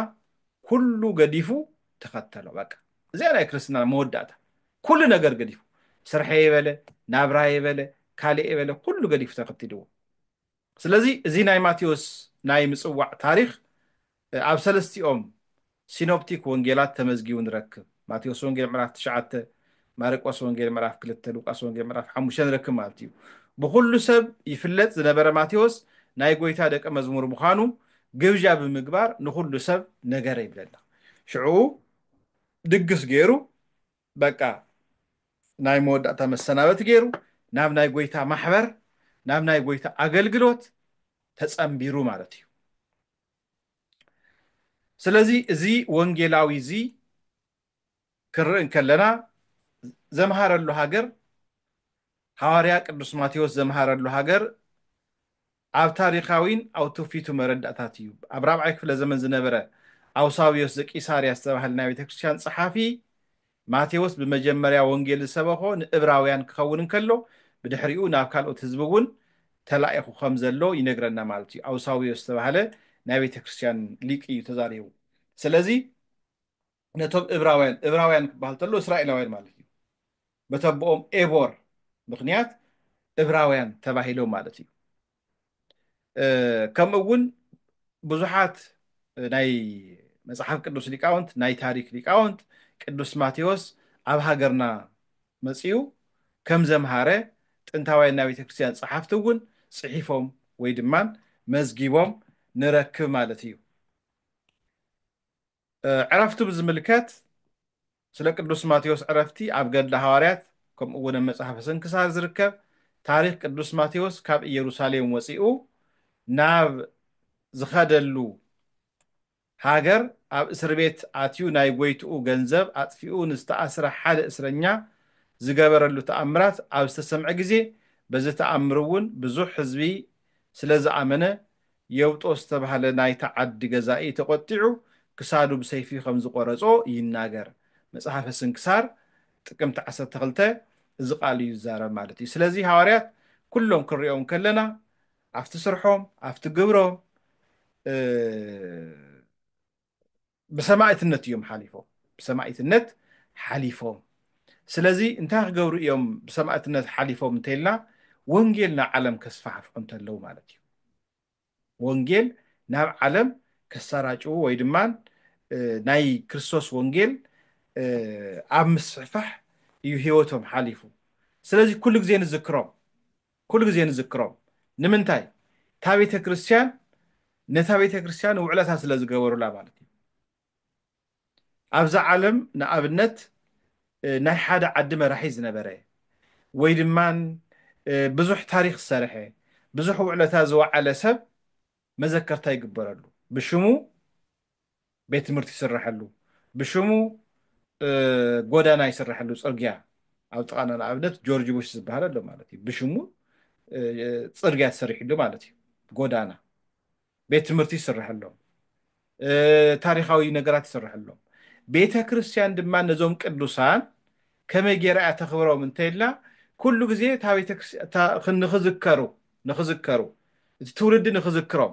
ኩሉ ገዲፉ ተኸተሎ። በቃ እዚኣ ናይ ክርስትና መወዳእታ። ኩሉ ነገር ገዲፉ ስርሐየ በለ፣ ናብራየ በለ፣ ካልኤ በለ ኩሉ ገዲፉ ተኸቲልዎ። ስለዚ እዚ ናይ ማቴዎስ ናይ ምጽዋዕ ታሪኽ ኣብ ሰለስቲኦም ሲኖፕቲክ ወንጌላት ተመዝጊቡ ንረክብ። ማቴዎስ ወንጌል ምዕራፍ ትሽዓተ፣ ማርቆስ ወንጌል ምዕራፍ ክልተ፣ ሉቃስ ወንጌል ምዕራፍ ሓሙሽተ ንረክብ ማለት እዩ። ብኹሉ ሰብ ይፍለጥ ዝነበረ ማቴዎስ ናይ ጎይታ ደቀ መዝሙር ምዃኑ ግብዣ ብምግባር ንኹሉ ሰብ ነገረ ይብለና። ሽዕኡ ድግስ ገይሩ በቃ ናይ መወዳእታ መሰናበቲ ገይሩ ናብ ናይ ጎይታ ማሕበር ናብ ናይ ጎይታ ኣገልግሎት ተጸምቢሩ ማለት እዩ። ስለዚ እዚ ወንጌላዊ እዚ ክንርኢ እንከለና ዘምሃረሉ ሃገር ሃዋርያ ቅዱስ ማቴዎስ ዘምሃረሉ ሃገር ኣብ ታሪካዊን ኣብ ትውፊቱ መረዳእታት እዩ ኣብ ራብዓይ ክፍለ ዘመን ዝነበረ ኣውሳብዮስ ዘቂሳርያ ዝተባህለ ናይ ቤተክርስትያን ፀሓፊ ማቴዎስ ብመጀመርያ ወንጌል ዝሰበኾ ንእብራውያን ክኸውን እንከሎ ብድሕሪኡ ናብ ካልኦት ህዝቢ እውን ተላኢኹ ከም ዘሎ ይነግረና ማለት እዩ። ኣውሳብዮስ ዝተባህለ ናይ ቤተ ክርስትያን ሊቅ እዩ ተዛሪቡ። ስለዚ ነቶም እብራውያን እብራውያን ክበሃል ተሎ እስራኤላውያን ማለት እዩ። በተቦኦም ኤቦር ምክንያት እብራውያን ተባሂሎም ማለት እዩ። ከምኡ እውን ብዙሓት ናይ መፅሓፍ ቅዱስ ሊቃውንት ናይ ታሪክ ሊቃውንት ቅዱስ ማቴዎስ ኣብ ሃገርና መፅኡ ከም ዘምሃረ ጥንታውያን ናይ ቤተ ክርስትያን ፀሓፍቲ እውን ፅሒፎም ወይ ድማ መዝጊቦም ንረክብ ማለት እዩ። ዕረፍቱ ብዝምልከት ስለ ቅዱስ ማቴዎስ ዕረፍቲ ኣብ ገድለ ሃዋርያት ከምኡ እውን ኣብ መጽሓፈ ስንክሳር ዝርከብ ታሪኽ ቅዱስ ማቴዎስ ካብ ኢየሩሳሌም ወፂኡ ናብ ዝኸደሉ ሃገር ኣብ እስር ቤት ኣትዩ ናይ ጎይትኡ ገንዘብ ኣጥፊኡ ንዝተኣስረ ሓደ እስረኛ ዝገበረሉ ተኣምራት ኣብ ዝተሰምዐ ግዜ በዚ ተኣምር እውን ብዙሕ ህዝቢ ስለ ዝኣመነ የውጦ ዝተባህለ ናይታ ዓዲ ገዛኢ ተቖጢዑ ክሳዱ ብሰይፊ ከም ዝቖረጾ ይናገር። መጽሓፈ ስንክሳር ጥቅምቲ ዓሰርተ ክልተ እዚ ቃል እዩ ዝዛረብ ማለት እዩ። ስለዚ ሃዋርያት ኩሎም ክንሪኦም ከለና ኣብቲ ስርሖም ኣብቲ ግብሮም ብሰማእትነት እዮም ሓሊፎም ብሰማእትነት ሓሊፎም ስለዚ እንታይ ክገብሩ እዮም ብሰማእትነት ሓሊፎም እንተይልና ወንጌል ናብ ዓለም ከስፋሕፍሑ እንተለዉ ማለት እዩ ወንጌል ናብ ዓለም ከሰራጭዉ ወይ ድማ ናይ ክርስቶስ ወንጌል ኣብ ምስሕፋሕ እዩ ህይወቶም ሓሊፉ ስለዚ ኩሉ ግዜ ንዝክሮም ኩሉ ግዜ ንዝክሮም ንምንታይ እታ ቤተ ክርስትያን ነታ ቤተ ክርስትያን ውዕለታ ስለ ዝገበሩላ ማለት እዩ ኣብዛ ዓለም ንኣብነት ናይ ሓደ ዓዲ መራሒ ዝነበረ ወይ ድማ ብዙሕ ታሪክ ዝሰርሐ ብዙሕ ውዕለታ ዝወዓለ ሰብ መዘከርታ ይግበረሉ ብሽሙ ቤት ትምህርቲ ይስረሐሉ ብሽሙ ጎዳና ይስረሐሉ ፅርግያ ኣብ ጥቃና ንኣብነት ጆርጅ ቡሽ ዝበሃል ኣሎ ማለት እዩ ብሽሙ ፅርግያ ተሰሪሕሉ ማለት እዩ ጎዳና ቤት ትምህርቲ ይስረሐሎም ታሪካዊ ነገራት ይስረሐሎም ቤተ ክርስቲያን ድማ ነዞም ቅዱሳን ከመይ ጌራ እያ ተኽብሮም እንተይልና ኩሉ ግዜ እታ ቤተ ክርስቲያን ንኽዝከሩ ንኽዝከሩ እቲ ትውልዲ ንኽዝክሮም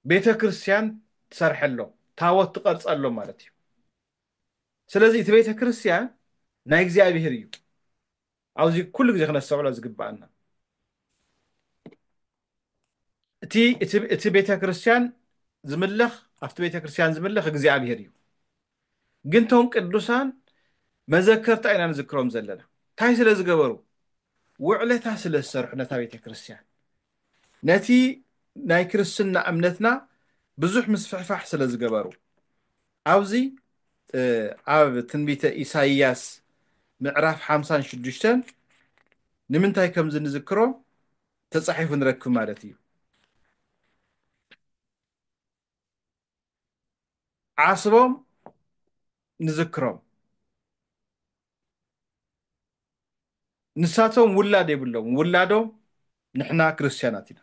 ቤተ ክርስቲያን ትሰርሐሎም ታወት ትቀርጸሎም ማለት እዩ ስለዚ እቲ ቤተ ክርስቲያን ናይ እግዚኣብሔር እዩ ኣብዚ ኩሉ ግዜ ክነስተውዕሎ ዝግባኣና እቲ እቲ ቤተ ክርስቲያን ዝምለኽ ኣብቲ ቤተ ክርስቲያን ዝምለኽ እግዚኣብሔር እዩ ግን ቶም ቅዱሳን መዘከርታ ኢና ንዝክሮም ዘለና ታይ ስለ ዝገበሩ ውዕለታ ስለ ዝሰርሑ ነታ ቤተክርስትያን ነቲ ናይ ክርስትና እምነትና ብዙሕ ምስፍሕፋሕ ስለ ዝገበሩ ኣብዚ ኣብ ትንቢተ ኢሳይያስ ምዕራፍ ሓምሳን ሽዱሽተን ንምንታይ ከምዚ ንዝክሮም ተጻሒፉ ንረክብ ማለት እዩ ዓስቦም ንዝክሮም ንሳቶም ውላድ የብሎም ውላዶም ንሕና ክርስትያናት ኢና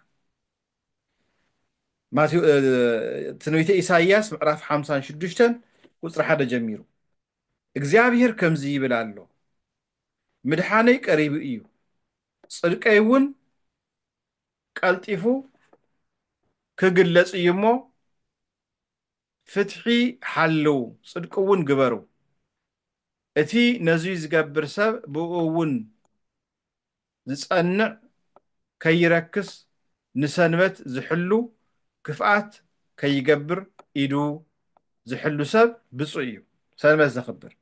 ትንቢተ ኢሳይያስ ምዕራፍ ሓምሳን ሽዱሽተን ቁፅሪ ሓደ ጀሚሩ እግዚኣብሔር ከምዚ ይብል ኣሎ ምድሓነይ ቀሪቡ እዩ ፅድቀይ እውን ቀልጢፉ ክግለጽ እዩ እሞ ፍትሒ ሓልው ጽድቂ እውን ግበሩ እቲ ነዙይ ዝገብር ሰብ ብእኡ እውን ዝጸንዕ ከይረክስ ንሰንበት ዝሕሉ ክፍኣት ከይገብር ኢዱ ዝሕሉ ሰብ ብጹእ እዩ ሰንበት ዘኽብር።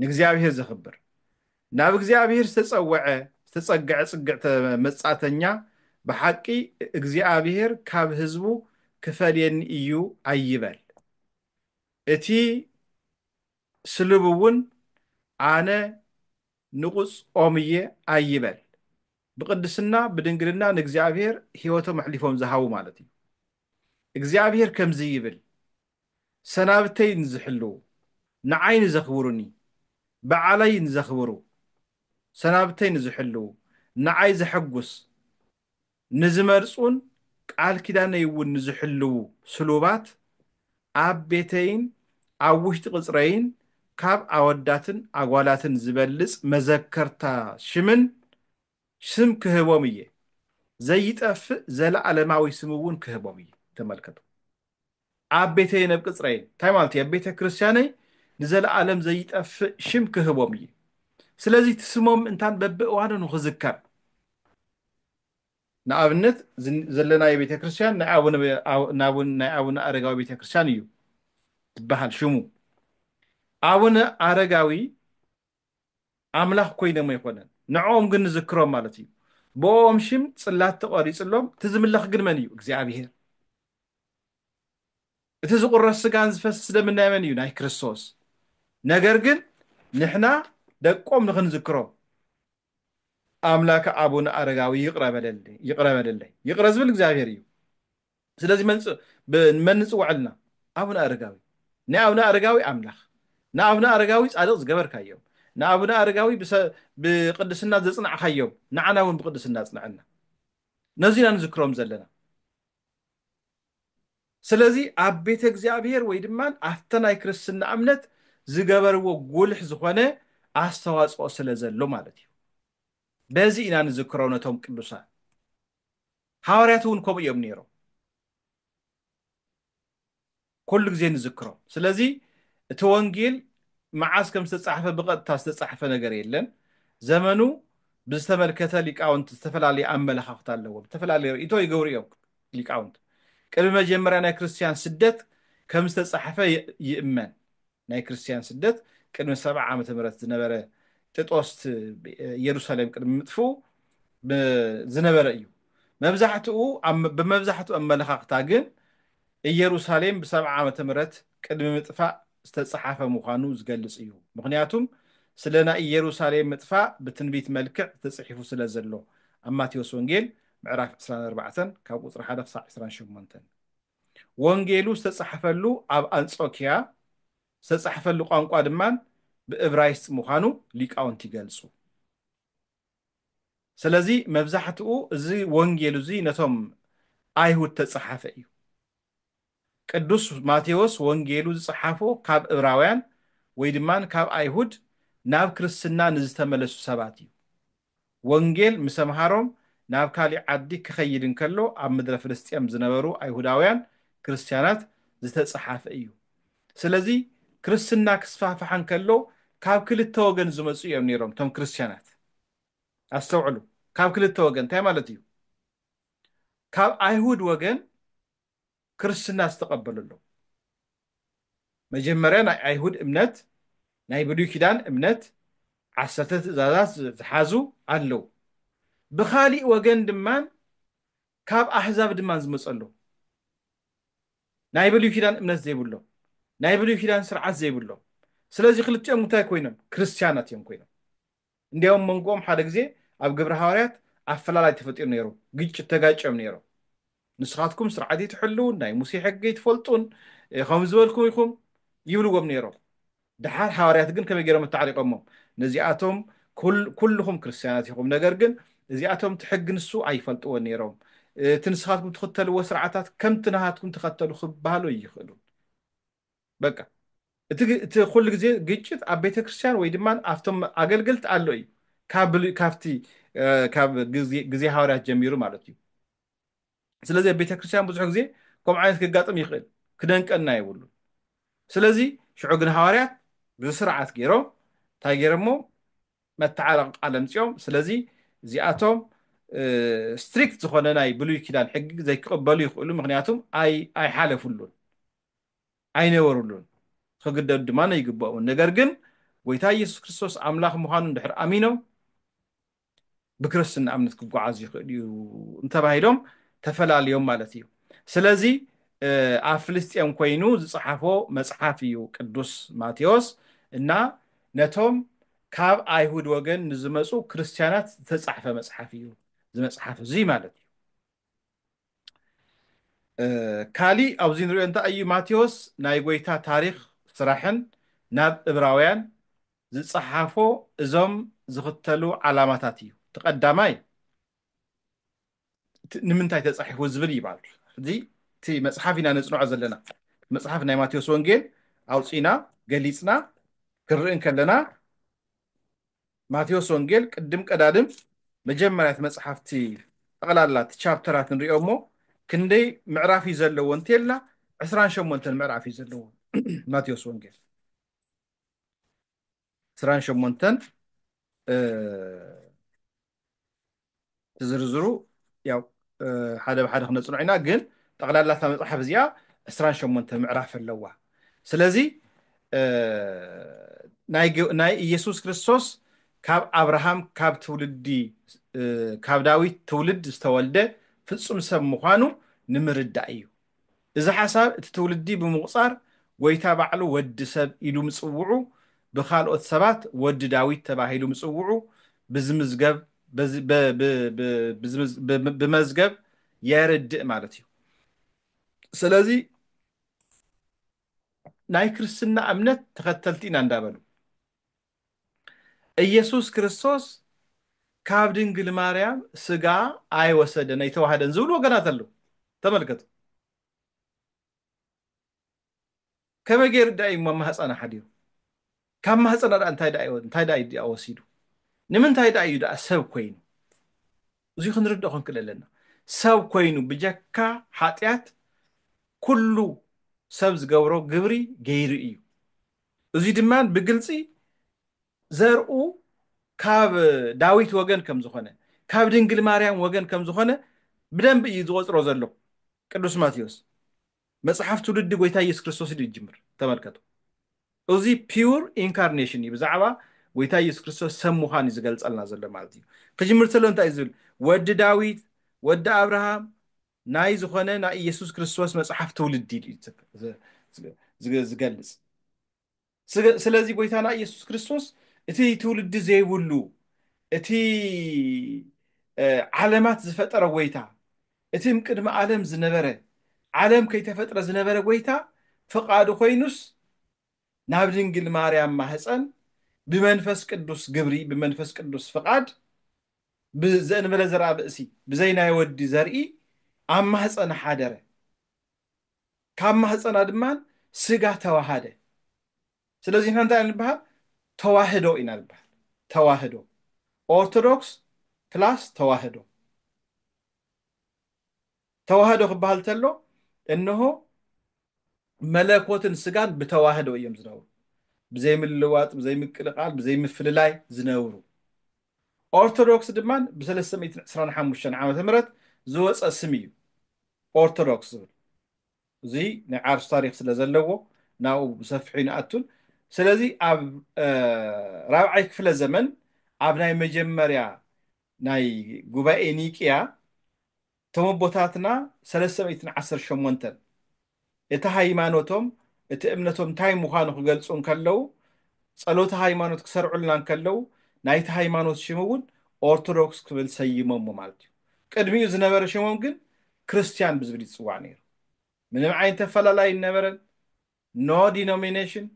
ንእግዚኣብሔር ዘኽብር ናብ እግዚኣብሔር ዝተጸወዐ ዝተጸግዐ ጽግዕተ መጻተኛ ብሓቂ እግዚኣብሔር ካብ ህዝቡ ክፈልየኒ እዩ ኣይበል እቲ ስልብ እውን ኣነ ንቑጽ ኦም እየ ኣይበል ብቅድስና ብድንግልና ንእግዚኣብሔር ሕይወቶም ኣሕሊፎም ዝሃቡ ማለት እዩ እግዚኣብሔር ከምዚ ይብል ሰናብተይ ንዝሕልዉ፣ ንዓይ ንዘኽብሩኒ፣ በዓለይ ንዘኽብሩ፣ ሰናብተይ ንዝሕልዉ፣ ንዓይ ዘሐጉስ ንዝመርጹን ቃል ኪዳነይ'ውን ንዝሕልዉ ስሉባት ኣብ ቤተይን ኣብ ውሽጢ ቅጽረይን ካብ ኣወዳትን ኣጓላትን ዝበልጽ መዘከርታ ሽምን ስም ክህቦም እየ፣ ዘይጠፍእ ዘለኣለማዊ ስም'ውን ክህቦም እየ። ተመልከቱ። ኣብ ቤተይን ኣብ ቅጽረይን፣ እንታይ ማለት እዩ? ኣብ ቤተ ክርስቲያነይ ንዘለኣለም ዘይጠፍእ ሽም ክህቦም እዩ። ስለዚ እቲ ስሞም እንታን በብእዋኑ ንኽዝከር። ንኣብነት እዚ ዘለናዮ ቤተ ክርስቲያን ናይ ኣቡነ ኣቡነ ናይ ኣቡነ ኣረጋዊ ቤተ ክርስቲያን እዩ ዝበሃል ሽሙ። ኣቡነ ኣረጋዊ ኣምላኽ ኮይኖም ኣይኮነን ንዕኦም ግን ንዝክሮም ማለት እዩ ብኦም ሽም ጽላት ተቐሪጽሎም እቲ ዝምለኽ ግን መን እዩ እግዚኣብሔር እቲ ዝቑረስ ስጋን ዝፈስስ ደምን ናይ መን እዩ ናይ ክርስቶስ ነገር ግን ንሕና ደቆም ንኽንዝክሮም ኣምላከ ኣቡነ ኣረጋዊ ይቕረ በለለይ ይቕረ በለለይ ይቕረ ዝብል እግዚኣብሔር እዩ ስለዚ መን ንጽውዐልና ኣቡነ ኣረጋዊ ንኣቡነ ኣረጋዊ ኣምላኽ ንኣቡነ ኣረጋዊ ጻድቕ ዝገበርካዮም ንኣቡነ ኣረጋዊ ብቅድስና ዘጽናዕካዮም ንዓና እውን ብቅድስና ኣጽንዐና ነዚ ኢና ንዝክሮም ዘለና ስለዚ ኣብ ቤተ እግዚኣብሔር ወይ ድማ ኣብተ ናይ ክርስትና እምነት ዝገበርዎ ጉልሕ ዝኾነ ኣስተዋጽኦ ስለ ዘሎ ማለት እዩ በዚ ኢና ንዝክሮ ነቶም ቅዱሳን ሃዋርያት እውን ከምኡ እዮም ነይሮም ኩሉ ግዜ ንዝክሮም ስለዚ እቲ ወንጌል መዓስ ከም ዝተፃሕፈ ብቐጥታ ዝተፃሕፈ ነገር የለን ዘመኑ ብዝተመልከተ ሊቃውንት ዝተፈላለየ ኣመለኻኽታ ኣለዎም ዝተፈላለየ ርእይቶ ይገብሩ እዮም ሊቃውንት ቅድሚ መጀመርያ ናይ ክርስትያን ስደት ከም ዝተፃሕፈ ይእመን ናይ ክርስትያን ስደት ቅድሚ ሰብዓ ዓመተ ምህረት ዝነበረ ጥጦስ ኢየሩሳሌም ቅድሚ ምጥፍኡ ዝነበረ እዩ። መብዛሕትኡ ብመብዛሕትኡ ኣመለኻኽታ ግን ኢየሩሳሌም ብሰብዓ ዓመተ ምህረት ቅድሚ ምጥፋእ ዝተጸሓፈ ምዃኑ ዝገልጽ እዩ። ምኽንያቱም ስለ ናይ ኢየሩሳሌም ምጥፋእ ብትንቢት መልክዕ ተጽሒፉ ስለ ዘሎ ኣብ ማቴዎስ ወንጌል ምዕራፍ ዕስራን ኣርባዕተን ካብ ቁጽሪ ሓደ ክሳዕ ዕስራን ሸሞንተን። ወንጌሉ ዝተጻሕፈሉ ኣብ ኣንጾክያ ዝተጻሕፈሉ ቋንቋ ድማ ብእብራይስጥ ምዃኑ ሊቃውንቲ ይገልጹ። ስለዚ መብዛሕትኡ እዚ ወንጌሉ እዚ ነቶም ኣይሁድ እተጻሓፈ እዩ። ቅዱስ ማቴዎስ ወንጌሉ ዝጸሓፎ ካብ እብራውያን ወይ ድማ ካብ ኣይሁድ ናብ ክርስትና ንዝተመለሱ ሰባት እዩ። ወንጌል ምስ ኣምሃሮም ናብ ካሊእ ዓዲ ክኸይድ እንከሎ ኣብ ምድረ ፍልስጤም ዝነበሩ ኣይሁዳውያን ክርስትያናት ዝተጸሓፈ እዩ። ስለዚ ክርስትና ክስፋሕፋሕ እንከሎ ካብ ክልተ ወገን ዝመጹ እዮም ነይሮም እቶም ክርስትያናት። ኣስተውዕሉ ካብ ክልተ ወገን እንታይ ማለት እዩ? ካብ ኣይሁድ ወገን ክርስትና ዝተቐበለሎም መጀመርያ ናይ ኣይሁድ እምነት ናይ ብሉይ ኪዳን እምነት ዓሰርተ ትእዛዛት ዝሓዙ ኣለው ብኻሊእ ወገን ድማ ካብ ኣህዛብ ድማ ዝመፀ ኣለው ናይ ብሉይ ኪዳን እምነት ዘይብሎም ናይ ብሉይ ኪዳን ስርዓት ዘይብሎም ስለዚ ክልቲኦም እንታይ ኮይኖም ክርስትያናት እዮም ኮይኖም እንዲያውም መንጎኦም ሓደ ግዜ ኣብ ግብረ ሃዋርያት ኣፈላላይ ተፈጢሩ ነይሩ፣ ግጭት ተጋጭዮም ነይሮም። ንስኻትኩም ስርዓት እይትሕልዉን፣ ናይ ሙሴ ሕጊ እይትፈልጡን፣ ከምዚ ዝበልኩም ኢኹም ይብልዎም ነይሮም። ደሓር ሃዋርያት ግን ከመይ ገይሮም ኣታዕሪቖሞም? ነዚኣቶም ኩልኹም ክርስትያናት ኢኹም፣ ነገር ግን እዚኣቶም እቲ ሕጊ ንሱ ኣይፈልጥዎን ነይሮም፣ እቲ ንስኻትኩም ትኽተልዎ ስርዓታት ከምቲ ናሃትኩም ተኸተሉ ክበሃሉ ኣይኽእሉን። በቃ እቲ ኩሉ ግዜ ግጭት ኣብ ቤተክርስትያን ወይ ድማ ኣብቶም ኣገልገልቲ ኣሎ እዩ ካብቲ ካብ ግዜ ሃዋርያት ጀሚሩ ማለት እዩ ስለዚ ኣብ ቤተክርስትያን ብዙሕ ግዜ ከምኡ ዓይነት ክጋጥም ይኽእል ክደንቀና የብሉ ስለዚ ሽዑ ግን ሃዋርያት ብስርዓት ገይሮም እንታይ ገይሮሞ መተዓረቂ ቃል ኣምፅኦም ስለዚ እዚኣቶም ስትሪክት ዝኾነ ናይ ብሉይ ኪዳን ሕጊ ዘይክቕበሉ ይኽእሉ ምክንያቱም ኣይሓለፍሉን ኣይነበሩሉን፣ ኽግደዱ ድማ ኣይግብኦምን። ነገር ግን ጐይታ ኢየሱስ ክርስቶስ ኣምላኽ ምዃኑ እንድሕር ኣሚኖም ብክርስትና እምነት ክጓዓዙ ይኽእሉ እዩ እንተባሂሎም ተፈላልዮም ማለት እዩ። ስለዚ ኣብ ፍልስጤም ኮይኑ ዝጸሓፎ መጽሓፍ እዩ ቅዱስ ማቴዎስ እና ነቶም ካብ ኣይሁድ ወገን ንዝመጹ ክርስትያናት ዝተጻሕፈ መጽሓፍ እዩ እዚ መጽሓፍ እዚ ማለት እዩ። ካሊእ ኣብዚ ንሪኦ እንታይ እዩ ማቴዎስ ናይ ጎይታ ታሪኽ ስራሕን ናብ እብራውያን ዝጸሓፎ እዞም ዝኽተሉ ዓላማታት እዩ እቲ ቀዳማይ ንምንታይ ተጻሒፉ ዝብል እዩ ማለት እዩ እዚ እቲ መጽሓፍ ኢና ነጽንዖ ዘለና መጽሓፍ ናይ ማቴዎስ ወንጌል ኣውፂና ገሊፅና ክንርኢ ከለና ማቴዎስ ወንጌል ቅድም ቀዳድም መጀመርያ እቲ መጽሓፍ እቲ ጠቕላላ እቲ ቻፕተራት ንሪኦ እሞ ክንደይ ምዕራፍ እዩ ዘለዎ እንተልና ዕስራን ሸሞንተን ምዕራፍ እዩ ዘለዎ ማቴዎስ ወንጌል ዕስራን ሸሞንተን እ፣ እቲ ዝርዝሩ ያው ሓደ ብሓደ ክነፅንዖ ኢና ግን ጠቕላላ እታ መፅሓፍ እዚኣ ዕስራን ሸሞንተ ምዕራፍ ኣለዋ ስለዚ ናይ ኢየሱስ ክርስቶስ ካብ ኣብርሃም ካብ ትውልዲ ካብ ዳዊት ትውልድ ዝተወልደ ፍፁም ሰብ ምዃኑ ንምርዳእ እዩ እዚ ሓሳብ እቲ ትውልዲ ብምቑጻር ጎይታ ባዕሉ ወዲ ሰብ ኢሉ ምጽውዑ ብካልኦት ሰባት ወዲ ዳዊት ተባሂሉ ምጽውዑ ብዝምዝገብ ብመዝገብ የርድእ ማለት እዩ። ስለዚ ናይ ክርስትና እምነት ተኸተልቲ ኢና እንዳበሉ እየሱስ ክርስቶስ ካብ ድንግል ማርያም ስጋ ኣይወሰደን ኣይተዋህደን ዝብሉ ወገናት ኣለው ተመልከቱ ከመይ ገይሩ ዳእዩ እሞ ማህፀና ሓዲሩ ካብ ማህፀና ዳኣ እንታይ ዳእዩ እንታይ ዳእዩ ዳኣ ወሲዱ ንምንታይ ዳእዩ ዳኣ ሰብ ኮይኑ እዚ ክንርድኦ ክንክእል ኣለና ሰብ ኮይኑ ብጀካ ሓጢኣት ኩሉ ሰብ ዝገብሮ ግብሪ ገይሩ እዩ እዙይ ድማ ብግልፂ ዘርኡ ካብ ዳዊት ወገን ከም ዝኾነ፣ ካብ ድንግል ማርያም ወገን ከም ዝኾነ ብደንቢ እዩ ዝቖፅሮ ዘሎ ቅዱስ ማቴዎስ። መፅሓፍ ትውልዲ ጎይታ ኢየሱስ ክርስቶስ እዩ ዝጅምር። ተመልከቱ። እዙይ ፒውር ኢንካርኔሽን እዩ። ብዛዕባ ጎይታ ኢየሱስ ክርስቶስ ሰብ ምዃን እዩ ዝገልፀልና ዘሎ ማለት እዩ። ክጅምር ተሎ እንታይ እዩ ዝብል? ወዲ ዳዊት፣ ወዲ ኣብርሃም፣ ናይ ዝኾነ ናይ ኢየሱስ ክርስቶስ መጽሓፍ ትውልዲ እዩ ዝገልጽ። ስለዚ ጎይታና ኢየሱስ ክርስቶስ እቲ ትውልዲ ዘይብሉ እቲ ዓለማት ዝፈጠረ ጎይታ እቲ ቅድሚ ዓለም ዝነበረ ዓለም ከይተፈጥረ ዝነበረ ጎይታ ፍቃዱ ኮይኑስ ናብ ድንግል ማርያም ማህፀን ብመንፈስ ቅዱስ ግብሪ ብመንፈስ ቅዱስ ፍቃድ ብዘእንበለ ዘርኣ ብእሲ ብዘይ ናይ ወዲ ዘርኢ ኣብ ማህጸና ሓደረ፣ ካብ ማህጸና ድማ ስጋ ተዋሃደ። ስለዚ ንሕና እንታይ ኢና ንበሃል? ተዋህዶ ኢና ንበሃል። ተዋህዶ ኦርቶዶክስ ፕላስ ተዋህዶ። ተዋህዶ ክበሃል ተሎ እንሆ መለኮትን ስጋን ብተዋህዶ እዮም ዝነብሩ ብዘይምልዋጥ ብዘይምቅልቃል ብዘይምፍልላይ ዝነብሩ ኦርቶዶክስ ድማ ብ325 ዓመተ ምህረት ዝወፀ ስም እዩ ኦርቶዶክስ ዝብል እዚ ናይ ዓርሱ ታሪክ ስለ ዘለዎ ናብኡ ብሰፊሑ ይንኣቱን ስለዚ ኣብ ራብዓይ ክፍለ ዘመን ኣብ ናይ መጀመርያ ናይ ጉባኤ ኒቅያ እቶም ኣቦታትና ሰለስተ ሚእትን ዓሰርተ ሸሞንተን እቲ ሃይማኖቶም እቲ እምነቶም እንታይ ምዃኑ ክገልጹ እንከለዉ ጸሎተ ሃይማኖት ክሰርዑልና እንከለዉ ናይቲ ሃይማኖት ሽም እውን ኦርቶዶክስ ክብል ሰይሞሞ ማለት እዩ ቅድሚኡ ዝነበረ ሽሞም ግን ክርስትያን ብዝብል ይጽዋዕ ነይሩ ምንም ዓይነት ኣፈላላይ ይነበረን ኖ ዲኖሚኔሽን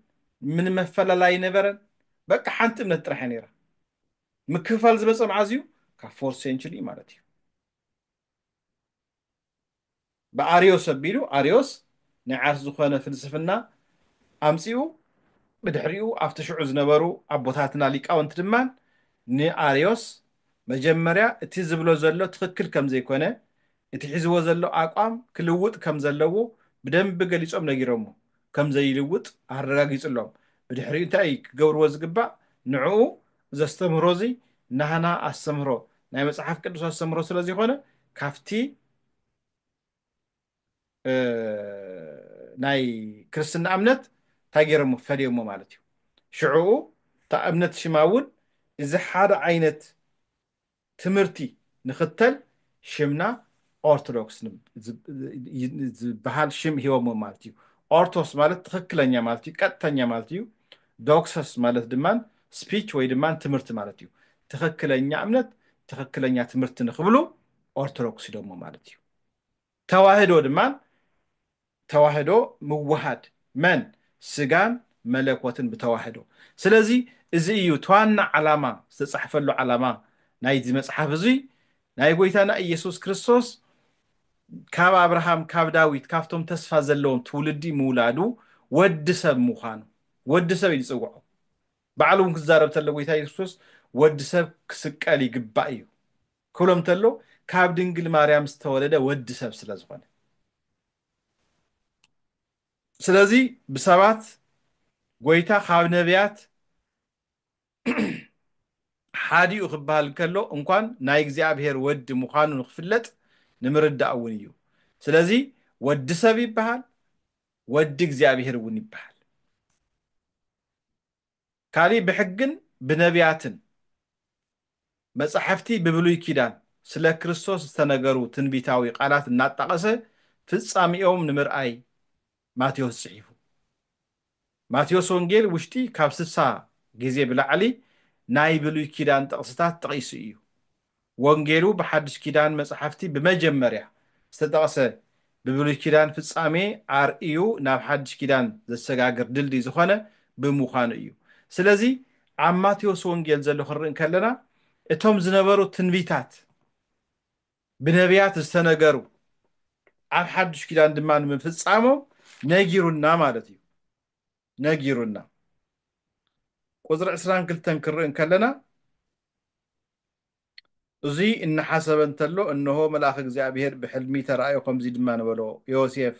ምንም ኣፈላላይ ይነበረን በቃ ሓንቲ እምነት ጥራሕ እያ ነይራ ምክፍፋል ዝመፀ መዓዝ እዩ ካብ ፎርት ሴንቹሪ እዩ ማለት እዩ ብኣርዮስ ኣቢሉ ኣርዮስ ናይ ዓርስ ዝኾነ ፍልስፍና ኣምፂኡ ብድሕሪኡ ኣብቲ ሽዑ ዝነበሩ ኣቦታትና ሊቃውንቲ ድማ ንኣርዮስ መጀመርያ እቲ ዝብሎ ዘሎ ትኽክል ከም ዘይኮነ እቲ ሒዝዎ ዘሎ ኣቋም ክልውጥ ከም ዘለዎ ብደንቢ ገሊጾም ነጊሮሞ ከም ዘይልውጥ ኣረጋጊጽሎም ብድሕሪኡ እንታይ እዩ ክገብርዎ ዝግባእ ንዕኡ እዚ ኣስተምህሮ እዚ ናህና ኣስተምህሮ ናይ መጽሓፍ ቅዱስ ኣስተምህሮ ስለ ዚኮነ ካብቲ ናይ ክርስትና እምነት እንታይ ገይሮሞ ፈለዮሞ ማለት እዩ ሽዕኡ እታ እምነት ሽማ እውን እዚ ሓደ ዓይነት ትምህርቲ ንክተል ሽምና ኦርቶዶክስ ዝብሃል ሽም ሂቦሞ ማለት እዩ። ኦርቶስ ማለት ትኽክለኛ ማለት እዩ፣ ቀጥተኛ ማለት እዩ። ዶክሰስ ማለት ድማ ስፒች ወይ ድማ ትምህርቲ ማለት እዩ። ትኽክለኛ እምነት ትኽክለኛ ትምህርቲ ንክብሉ ኦርቶዶክስ ኢሎሞ ማለት እዩ። ተዋህዶ ድማ ተዋህዶ ምውሃድ መን ስጋን መለኮትን ብተዋህዶ ስለዚ እዚ እዩ ትዋና ዓላማ ዝተጻሕፈሉ ዓላማ ናይዚ መጽሓፍ እዙይ ናይ ጎይታና ኢየሱስ ክርስቶስ ካብ ኣብርሃም ካብ ዳዊት ካብቶም ተስፋ ዘለዎም ትውልዲ ምውላዱ ወዲ ሰብ ምዃኑ ወዲ ሰብ እዩ ዝጽውዖ ባዕሉ እውን ክዛረብ ተሎ ጎይታ ኢየሱስ ክርስቶስ ወዲ ሰብ ክስቀል ይግባእ እዩ ክብሎም እንተሎ ካብ ድንግል ማርያም ዝተወለደ ወዲ ሰብ ስለ ዝኾነ ስለዚ ብሰባት ጎይታ ካብ ነቢያት ሓዲኡ ክበሃል እንከሎ እንኳን ናይ እግዚኣብሔር ወዲ ምዃኑ ንክፍለጥ ንምርዳእ እውን እዩ ስለዚ ወዲ ሰብ ይበሃል ወዲ እግዚኣብሔር እውን ይበሃል ካሊእ ብሕግን ብነብያትን፣ መጻሕፍቲ ብብሉይ ኪዳን፣ ስለ ክርስቶስ ዝተነገሩ ትንቢታዊ ቃላት እናጣቐሰ ፍጻሜኦም ንምርኣይ ማቴዎስ ጽሒፉ። ማቴዎስ ወንጌል ውሽጢ ካብ ስሳ ግዜ ብላዕሊ ናይ ብሉይ ኪዳን ጥቕስታት ጠቒሱ እዩ። ወንጌሉ ብሓድሽ ኪዳን መጻሕፍቲ ብመጀመርያ ዝተጠቕሰ ብብሉይ ኪዳን ፍጻሜ ኣርእዩ ናብ ሓድሽ ኪዳን ዘሰጋግር ድልድይ ዝኾነ ብምዃኑ እዩ። ስለዚ ኣብ ማቴዎስ ወንጌል ዘሎ ክንርኢ እንከለና እቶም ዝነበሩ ትንቢታት ብነብያት ዝተነገሩ ኣብ ሓድሽ ኪዳን ድማ ንምፍጻሞም ነጊሩና ማለት እዩ። ነጊሩና። ቁጽሪ ዕስራን ክልተን ክንርኢ እንከለና እዙይ እናሓሰበ እንተሎ እነሆ መልኣኽ እግዚኣብሄር ብሕልሚ ተራእዮ ከምዙይ ድማ ነበሎ ዮሴፍ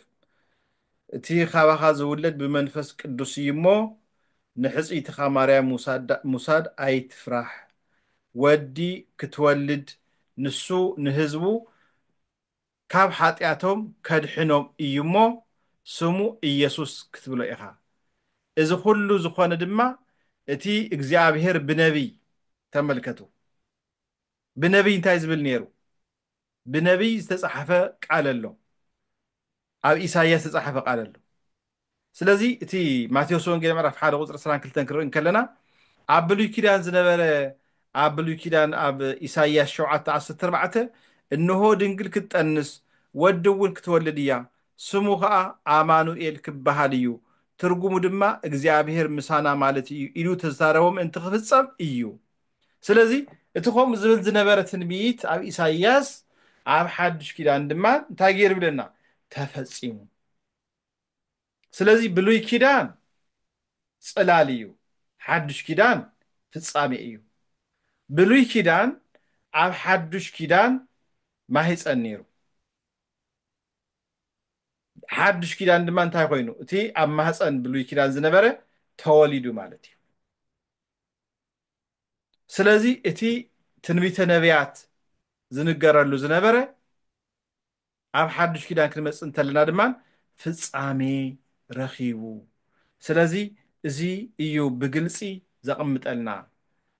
እቲ ካባኻ ዝውለድ ብመንፈስ ቅዱስ እዩ እሞ ንሕፅይትኻ ማርያም ሙሳድ ኣይትፍራሕ ወዲ ክትወልድ ንሱ ንህዝቡ ካብ ሓጢኣቶም ከድሕኖም እዩ እሞ ስሙ ኢየሱስ ክትብሎ ኢኻ። እዚ ኹሉ ዝኾነ ድማ እቲ እግዚኣብሔር ብነቢይ፣ ተመልከቱ ብነቢይ እንታይ ዝብል ነይሩ፣ ብነቢይ ዝተጻሕፈ ቃል ኣሎ፣ ኣብ ኢሳይያስ ዝተጻሕፈ ቃል ኣሎ፣ ስለዚ እቲ ማቴዎስ ወንጌል ምዕራፍ ሓደ ቁፅሪ ዕስራን ክልተን ክንርኢ እንከለና ኣብ ብሉይ ኪዳን ዝነበረ ኣብ ብሉይ ኪዳን ኣብ ኢሳይያስ ሸውዓተ ዓሰርተ ኣርባዕተ እንሆ ድንግል ክትጠንስ ወዲ እውን ክትወልድ እያ ስሙ ከዓ ኣማኑኤል ክበሃል እዩ ትርጉሙ ድማ እግዚኣብሔር ምሳና ማለት እዩ ኢሉ ዝተዛረቦ ምእንቲ ክፍፀም እዩ ስለዚ እቲ ከምኡ ዝብል ዝነበረ ትንቢት ኣብ ኢሳይያስ ኣብ ሓዱሽ ኪዳን ድማ እንታይ ገይሩ ይብለና ተፈፂሙ ስለዚ ብሉይ ኪዳን ጽላል እዩ ሓዱሽ ኪዳን ፍጻሜ እዩ ብሉይ ኪዳን ኣብ ሓዱሽ ኪዳን ማህጸን ነይሩ ሓዱሽ ኪዳን ድማ እንታይ ኮይኑ እቲ ኣብ ማህጸን ብሉይ ኪዳን ዝነበረ ተወሊዱ ማለት እዩ ስለዚ እቲ ትንቢተ ነቢያት ዝንገረሉ ዝነበረ ኣብ ሓዱሽ ኪዳን ክንመጽእ እንተለና ድማ ፍጻሜ ረኺቡ ስለዚ እዚ እዩ ብግልጺ ዘቕምጠልና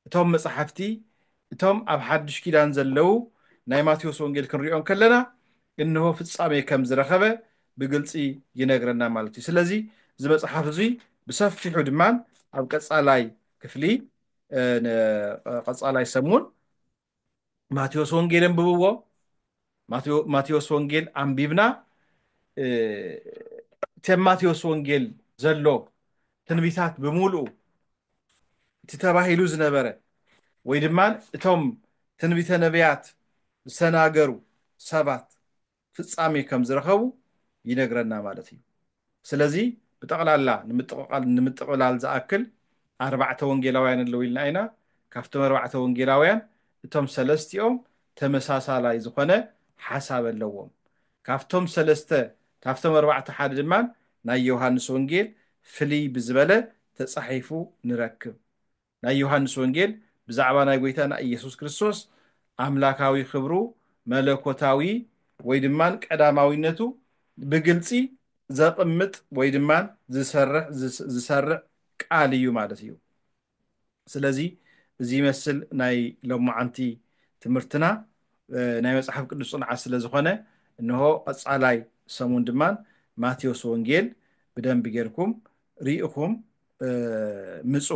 እቶም መጻሕፍቲ እቶም ኣብ ሓዱሽ ኪዳን ዘለው ናይ ማቴዎስ ወንጌል ክንሪኦ እንከለና እንሆ ፍጻሜ ከም ዝረኸበ ብግልጺ ይነግረና ማለት እዩ ስለዚ እዚ መጽሓፍ እዚ ብሰፊሑ ድማ ኣብ ቀጻላይ ክፍሊ ቀጻላይ ሰሙን ማቴዎስ ወንጌል ኣንብብዎ ማቴዎስ ወንጌል ኣንቢብና እቲ ኣብ ማቴዎስ ወንጌል ዘሎ ትንቢታት ብምሉኡ እቲ ተባሂሉ ዝነበረ ወይ ድማ እቶም ትንቢተ ነቢያት ዝተናገሩ ሰባት ፍጻሜ ከም ዝረኸቡ ይነግረና ማለት እዩ። ስለዚ ብጠቕላላ ንምጥቕቓል ንምጥቕላል ዝኣክል ኣርባዕተ ወንጌላውያን ኣለዉ ኢልና ኢና። ካብቶም ኣርባዕተ ወንጌላውያን እቶም ሰለስቲኦም ተመሳሳላይ ዝኾነ ሓሳብ ኣለዎም። ካብቶም ሰለስተ ካብቶም ኣርባዕተ ሓደ ድማ ናይ ዮሃንስ ወንጌል ፍልይ ብዝበለ ተጻሒፉ ንረክብ። ናይ ዮሃንስ ወንጌል ብዛዕባ ናይ ጎይታና ኢየሱስ ክርስቶስ ኣምላካዊ ክብሩ መለኮታዊ ወይ ድማ ቀዳማዊነቱ ብግልጺ ዘቅምጥ ወይ ድማ ዝሰርሕ ዝሰርዕ ቃል እዩ ማለት እዩ ስለዚ እዚ ይመስል ናይ ሎማዓንቲ ትምህርትና ናይ መጽሓፍ ቅዱስ ጽንዓት ስለ ዝኾነ እንሆ ቀጻላይ ሰሙን ድማ ማቴዎስ ወንጌል ብደንቢ ጌርኩም ሪኢኹም ምፁ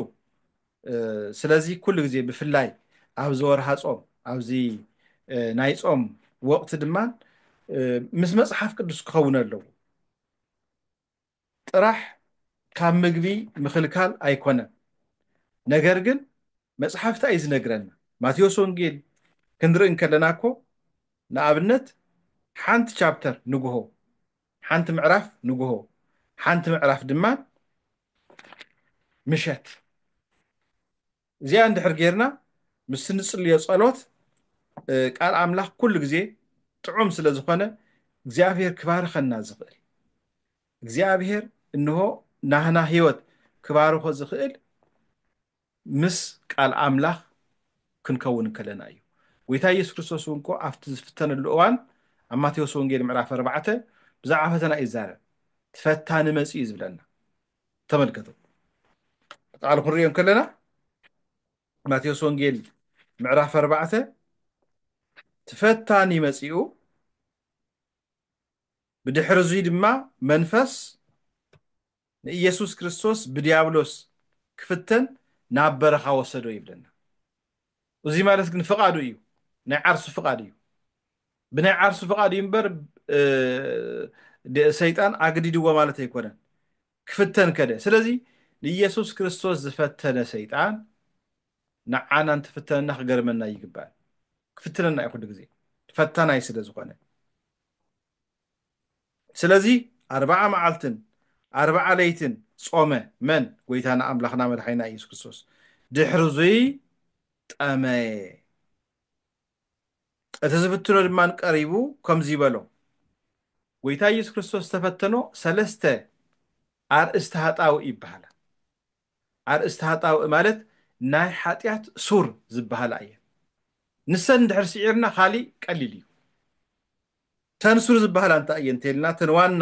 ስለዚ ኩሉ ግዜ ብፍላይ ኣብዚ ወርሃ ፆም ኣብዚ ናይ ፆም ወቅቲ ድማ ምስ መፅሓፍ ቅዱስ ክኸውን ኣለዎ ጥራሕ ካብ ምግቢ ምኽልካል ኣይኮነን ነገር ግን መፅሓፍ እንታይ እዩ ዝነግረና ማቴዎስ ወንጌል ክንርኢ እንከለና እኮ ንኣብነት ሓንቲ ቻፕተር ንግሆ ሓንቲ ምዕራፍ ንግሆ ሓንቲ ምዕራፍ ድማ ምሸት እዚኣ እንድሕር ጌርና ምስ ንጽልዮ ጸሎት ቃል ኣምላኽ ኩሉ ግዜ ጥዑም ስለ ዝኾነ እግዚኣብሔር ክባርኸና ዝኽእል እግዚኣብሔር እንሆ ናህና ህይወት ክባርኾ ዝኽእል ምስ ቃል ኣምላኽ ክንከውን ከለና እዩ። ጎይታ ኢየሱስ ክርስቶስ እውን እኮ ኣብቲ ዝፍተነሉ እዋን ኣብ ማቴዎስ ወንጌል ምዕራፍ ኣርባዕተ ብዛዕባ ፈተና እዩ ዝዛረብ። እቲ ፈታኒ መጺኡ እዩ ዝብለና። ተመልከቱ ቃሉ ክንሪኦ ከለና ማቴዎስ ወንጌል ምዕራፍ ኣርባዕተ እቲ ፈታኒ መጺኡ ብድሕሪ እዙይ ድማ መንፈስ ንኢየሱስ ክርስቶስ ብዲያብሎስ ክፍተን ናብ በረኻ ወሰዶ ይብለና። እዙይ ማለት ግን ፍቓዱ እዩ፣ ናይ ዓርሱ ፍቓድ እዩ። ብናይ ዓርሱ ፍቓድ እዩ እምበር ሰይጣን ኣግዲድዎ ማለት ኣይኮነን። ክፍተን ከደ። ስለዚ ንኢየሱስ ክርስቶስ ዝፈተነ ሰይጣን ንዓና እንትፍተነና ክገርመና ይግባል። ክፍትነና እዩ ኩሉ ግዜ ፈታናይ ስለ ዝኾነ። ስለዚ ኣርብዓ መዓልትን ኣርብዓ ለይትን ጾመ፣ መን? ጐይታና ኣምላኽና መድሓኒና ኢየሱስ ክርስቶስ። ድሕርዙይ ጠመየ። እቲ ዝፍትኖ ድማ ቀሪቡ ከምዙይ በሎ። ጐይታ ኢየሱስ ክርስቶስ ዝተፈተኖ ሰለስተ ኣርእስቲ ሃጣው ይበሃላ። ኣርእስቲ ሃጣውእ ማለት ናይ ሓጢኣት ሱር ዝበሃላ እየን። ንሰን እንድሕር ስዒርና ካሊእ ቀሊል እዩ። እተን ሱር ዝበሃላ እንታይ እየን እንተይልና እተን ዋና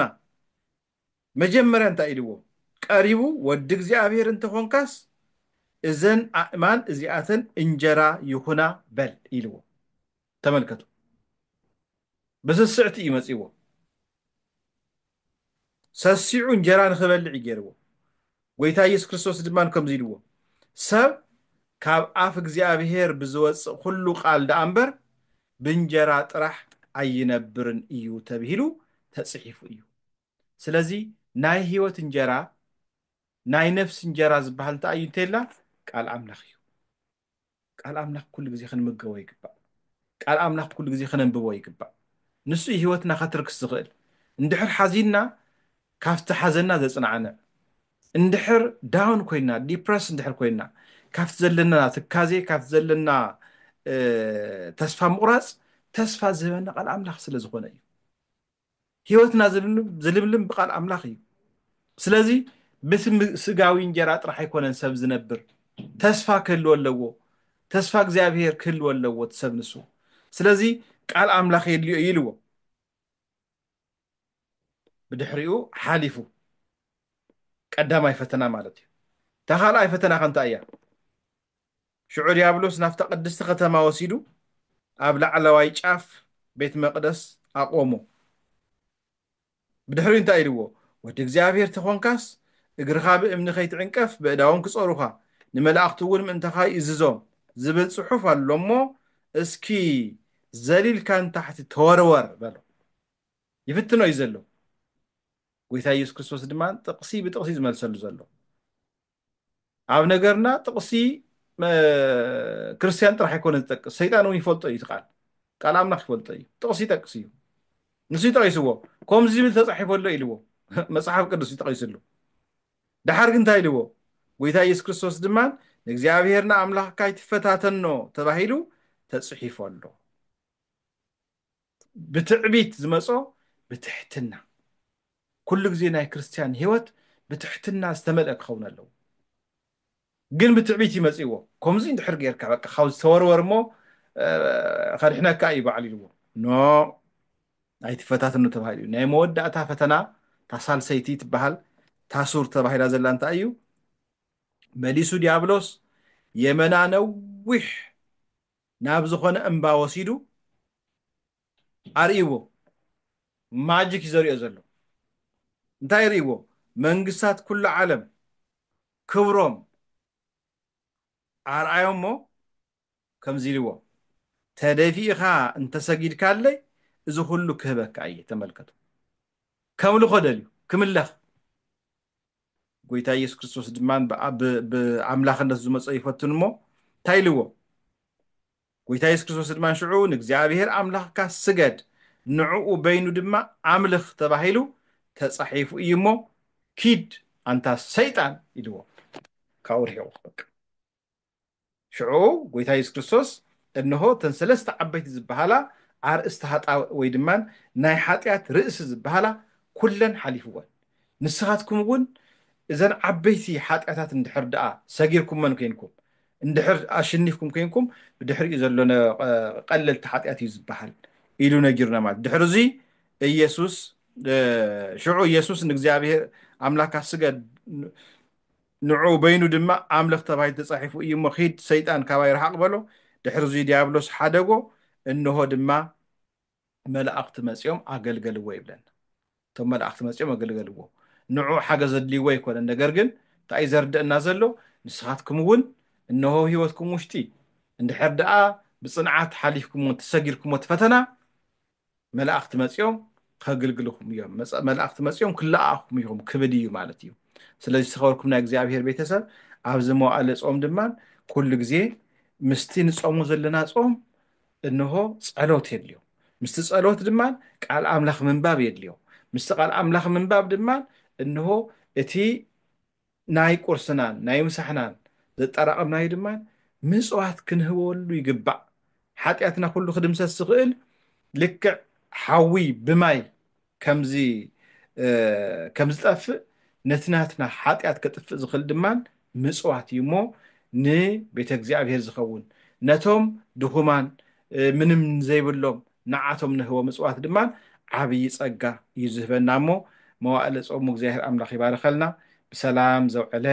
መጀመርያ እንታይ ኢልዎ ቀሪቡ ወዲ እግዚኣብሔር እንተኾንካስ እዘን ኣእማን እዚኣተን እንጀራ ይኹና በል ኢልዎ። ተመልከቱ። ብስስዕቲ እዩ መጺእዎ። ሰሲዑ እንጀራ ንኽበልዕ እዩ ገይርዎ። ጐይታ ኢየሱስ ክርስቶስ ድማ ከምዚ ኢልዎ፣ ሰብ ካብ ኣፍ እግዚኣብሔር ብዝወጽእ ዅሉ ቓል ደኣ እምበር፣ ብእንጀራ ጥራሕ ኣይነብርን እዩ ተብሂሉ ተጽሒፉ እዩ። ስለዚ ናይ ህይወት እንጀራ፣ ናይ ነፍሲ እንጀራ ዝበሃል እንታይ እዩ እንተ ኢልና፣ ቃል ኣምላኽ እዩ። ቃል ኣምላኽ ኩሉ ግዜ ክንምገቦ ይግባእ ቃል ኣምላኽ ኩሉ ግዜ ክነንብቦ ይግባእ ንሱ እዩ ህይወትና ከትርክስ ዝኽእል እንድሕር ሓዚንና ካብቲ ሓዘና ዘጽናዕንዕ እንድሕር ዳውን ኮይና ዲፕረስ እንድሕር ኮይና ካብቲ ዘለና ትካዜ ካብቲ ዘለና ተስፋ ምቑራጽ ተስፋ ዝህበና ቃል ኣምላኽ ስለ ዝኾነ እዩ ህይወትና ዝልምልም ብቃል ኣምላኽ እዩ ስለዚ ብስጋዊ እንጀራ ጥራሕ ኣይኮነን ሰብ ዝነብር ተስፋ ክህልዎ ኣለዎ ተስፋ እግዚኣብሄር ክህልዎ ኣለዎ ትሰብ ንሱ ስለዚ ቃል ኣምላኽ የድልዮ እዩ ኢልዎ ብድሕሪኡ ሓሊፉ ቀዳማይ ፈተና ማለት እዩ እታ ካልኣይ ፈተና ከንታ እያ ሽዑ ድያብሎስ ናብታ ቅድስቲ ኸተማ ወሲዱ ኣብ ላዕለዋይ ጫፍ ቤት መቕደስ ኣቖሞ። ብድሕሪኡ እንታይ ኢልዎ? ወዲ እግዚኣብሄር ተዀንካስ፣ እግርኻ ብእምኒ ኸይትዕንቀፍ በእዳዎም ክጾሩኻ፣ ንመላእኽቱውን ምእንታኻ ይእዝዞም ዝብል ጽሑፍ ኣሎ እሞ፣ እስኪ ዘሊልካ ንታሕቲ ተወርወር በሎ። ይፍትኖ እዩ ዘሎ። ጐይታ የሱስ ክርስቶስ ድማ ጥቕሲ ብጥቕሲ እዩ ዝመልሰሉ ዘሎ። ኣብ ነገርና ጥቕሲ ክርስትያን ጥራሕ ኣይኮነ ዝጠቅስ ሰይጣን እውን ይፈልጦ እዩ ቃል ቃል ኣምላኽ ይፈልጦ እዩ ጥቕሲ ይጠቅስ እዩ ንሱ ይጠቂስዎ ከምዚ ዝብል ተፃሒፎ ኣሎ ኢልዎ መፅሓፍ ቅዱስ ይጠቂስሉ ድሓር ግን እንታይ ኢልዎ ጎይታ ኢየሱስ ክርስቶስ ድማ ንእግዚኣብሔር ንኣምላኽካ ይትፈታተኖ ተባሂሉ ተፅሒፎ ኣሎ ብትዕቢት ዝመጾ ብትሕትና ኩሉ ግዜ ናይ ክርስትያን ህይወት ብትሕትና ዝተመልአ ክኸውን ኣለዎ ግን ብትዕቢት ይመጽእዎ ከምዚ እንድሕር ጌርካ በቃ ካብ ዝተወርወር እሞ ከድሕነካ እዩ በዓል ኢልዎ ኖ ኣይትፈታትኑ ተባሂሉ እዩ ናይ መወዳእታ ፈተና እታ ሳልሰይቲ ትበሃል ታሱር ተባሂላ ዘላ እንታይ እዩ መሊሱ ዲያብሎስ የመና ነዊሕ ናብ ዝኾነ እምባ ወሲዱ ኣርእይዎ። ማጂክ እዩ ዘርእዮ ዘሎ። እንታይ የርእይዎ? መንግስታት ኩሉ ዓለም ክብሮም ኣርኣዮሞ ከምዚ ኢልዎ፣ ተደፊእኻ እንተሰጊድካለይ እዚ ኩሉ ክህበካ እየ። ተመልከቱ፣ ከምልኾ ደልዩ፣ ክምለኽ። ጎይታ ኢየሱስ ክርስቶስ ድማ ብኣምላኽነት ዝመጾ ይፈትን እሞ እንታይ ኢልዎ ጎይታ ኢየሱስ ክርስቶስ ድማ ሽዑ ንእግዚኣብሔር ኣምላኽካ ስገድ ንዕኡ በይኑ ድማ ኣምልኽ ተባሂሉ ተጻሒፉ እዩ እሞ ኪድ ኣንታ ሰይጣን ኢልዎ ካብኡ ርሒቑ በቃ ሽዑ ጎይታ የሱስ ክርስቶስ እንሆ እተን ሰለስተ ዓበይቲ ዝበሃላ ኣርእስቲ ሃጣውእ ወይ ድማ ናይ ሓጢኣት ርእሲ ዝበሃላ ኩለን ሓሊፍወን ንስኻትኩም እውን እዘን ዓበይቲ ሓጢኣታት እንድሕር ደኣ ሰጊርኩመን ኮይንኩም እንድሕር ኣሽኒፍኩም ኮይንኩም ብድሕሪኡ ዘሎ ቀለልቲ ሓጢኣት እዩ ዝበሃል ኢሉ ነጊሩና ማለት ድሕሪ እዚ ኢየሱስ ሽዑ ኢየሱስ ንእግዚኣብሔር ኣምላካ ስገድ ንዕኡ በይኑ ድማ ኣምልኽ ተባሂሉ ተጻሒፉ እዩ እሞ ኺድ ሰይጣን ካባይ ርሓቕ በሎ፣ ድሕርዙይ ድያብሎስ ሓደጎ፣ እንሆ ድማ መላእኽቲ መጺኦም ኣገልገልዎ ይብለና። እቶም መላእኽቲ መጺኦም ኣገልገልዎ ንዕኡ ሓገዝ ኣድልይዎ ኣይኮነን ነገር ግን እንታይ እዩ ዘርደእና ዘሎ ንስኻትኩም እውን እንሆ ህይወትኩም ውሽጢ እንድሕር ደኣ ብጽንዓት ሓሊፍኩምዎ እንተሰጊርኩምዎ እቲ ፈተና መላእኽቲ መጺኦም ከግልግልኹም እዮም፣ መጽ- መላእኽቲ መጺኦም ክለኣኹም እዮም ክብል እዩ ማለት እዩ። ስለዚ ዝተኸበርኩም ናይ እግዚኣብሔር ቤተሰብ ኣብዚ መዋእለ ጾም ድማ ኩሉ ግዜ ምስቲ ንጾሙ ዘለና ጾም እንሆ ጸሎት የድልዮ። ምስቲ ጸሎት ድማ ቃል ኣምላኽ ምንባብ የድልዮ። ምስቲ ቃል ኣምላኽ ምንባብ ድማ እንሆ እቲ ናይ ቁርስናን ናይ ምሳሕናን ዘጣራቐምናዩ ድማ ምጽዋት ክንህበሉ ይግባእ። ሓጢኣትና ኩሉ ክድምሰስ ዝኽእል ልክዕ ሓዊ ብማይ ከም ዝጠፍእ ነቲ ናትና ሓጢኣት ከጥፍእ ዝኽእል ድማ ምጽዋት እዩ እሞ ንቤተ እግዚኣብሔር ዝኸውን ነቶም ድኹማን ምንም ዘይብሎም ንዓቶም ንህቦም እፅዋት ድማ ዓብዪ ፀጋ እዩ ዝህበና እሞ መዋእለ ፆሙ እግዚኣብሔር ኣምላክ ይባርኸልና ብሰላም ዘውዐለ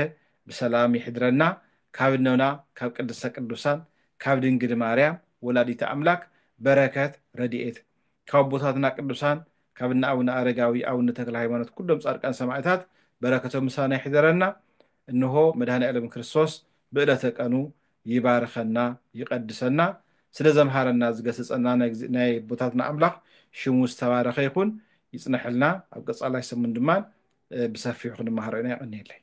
ብሰላም ይሕድረና ካብ እኖና ካብ ቅድስተ ቅዱሳን ካብ ድንግል ማርያም ወላዲተ ኣምላክ በረከት ረድኤት ካብ ኣቦታትና ቅዱሳን ካብ እነ ኣቡነ ኣረጋዊ ኣቡነ ተክለ ሃይማኖት ኩሎም ፃድቃን ሰማዕታት በረከቶም ምሳና ይሕደረና እንሆ መድኃኔዓለም ክርስቶስ ብእለተ ቀኑ ይባርኸና ይቀድሰና ስለ ዘምሃረና ዝገሰጸና ናይ ኣቦታትና ኣምላኽ ሽሙ ዝተባረኸ ይኹን ይጽነሐልና ኣብ ቀጻላይ ሰሙን ድማ ብሰፊሑ ክንመሃሮ ኢና የቀንየለይ።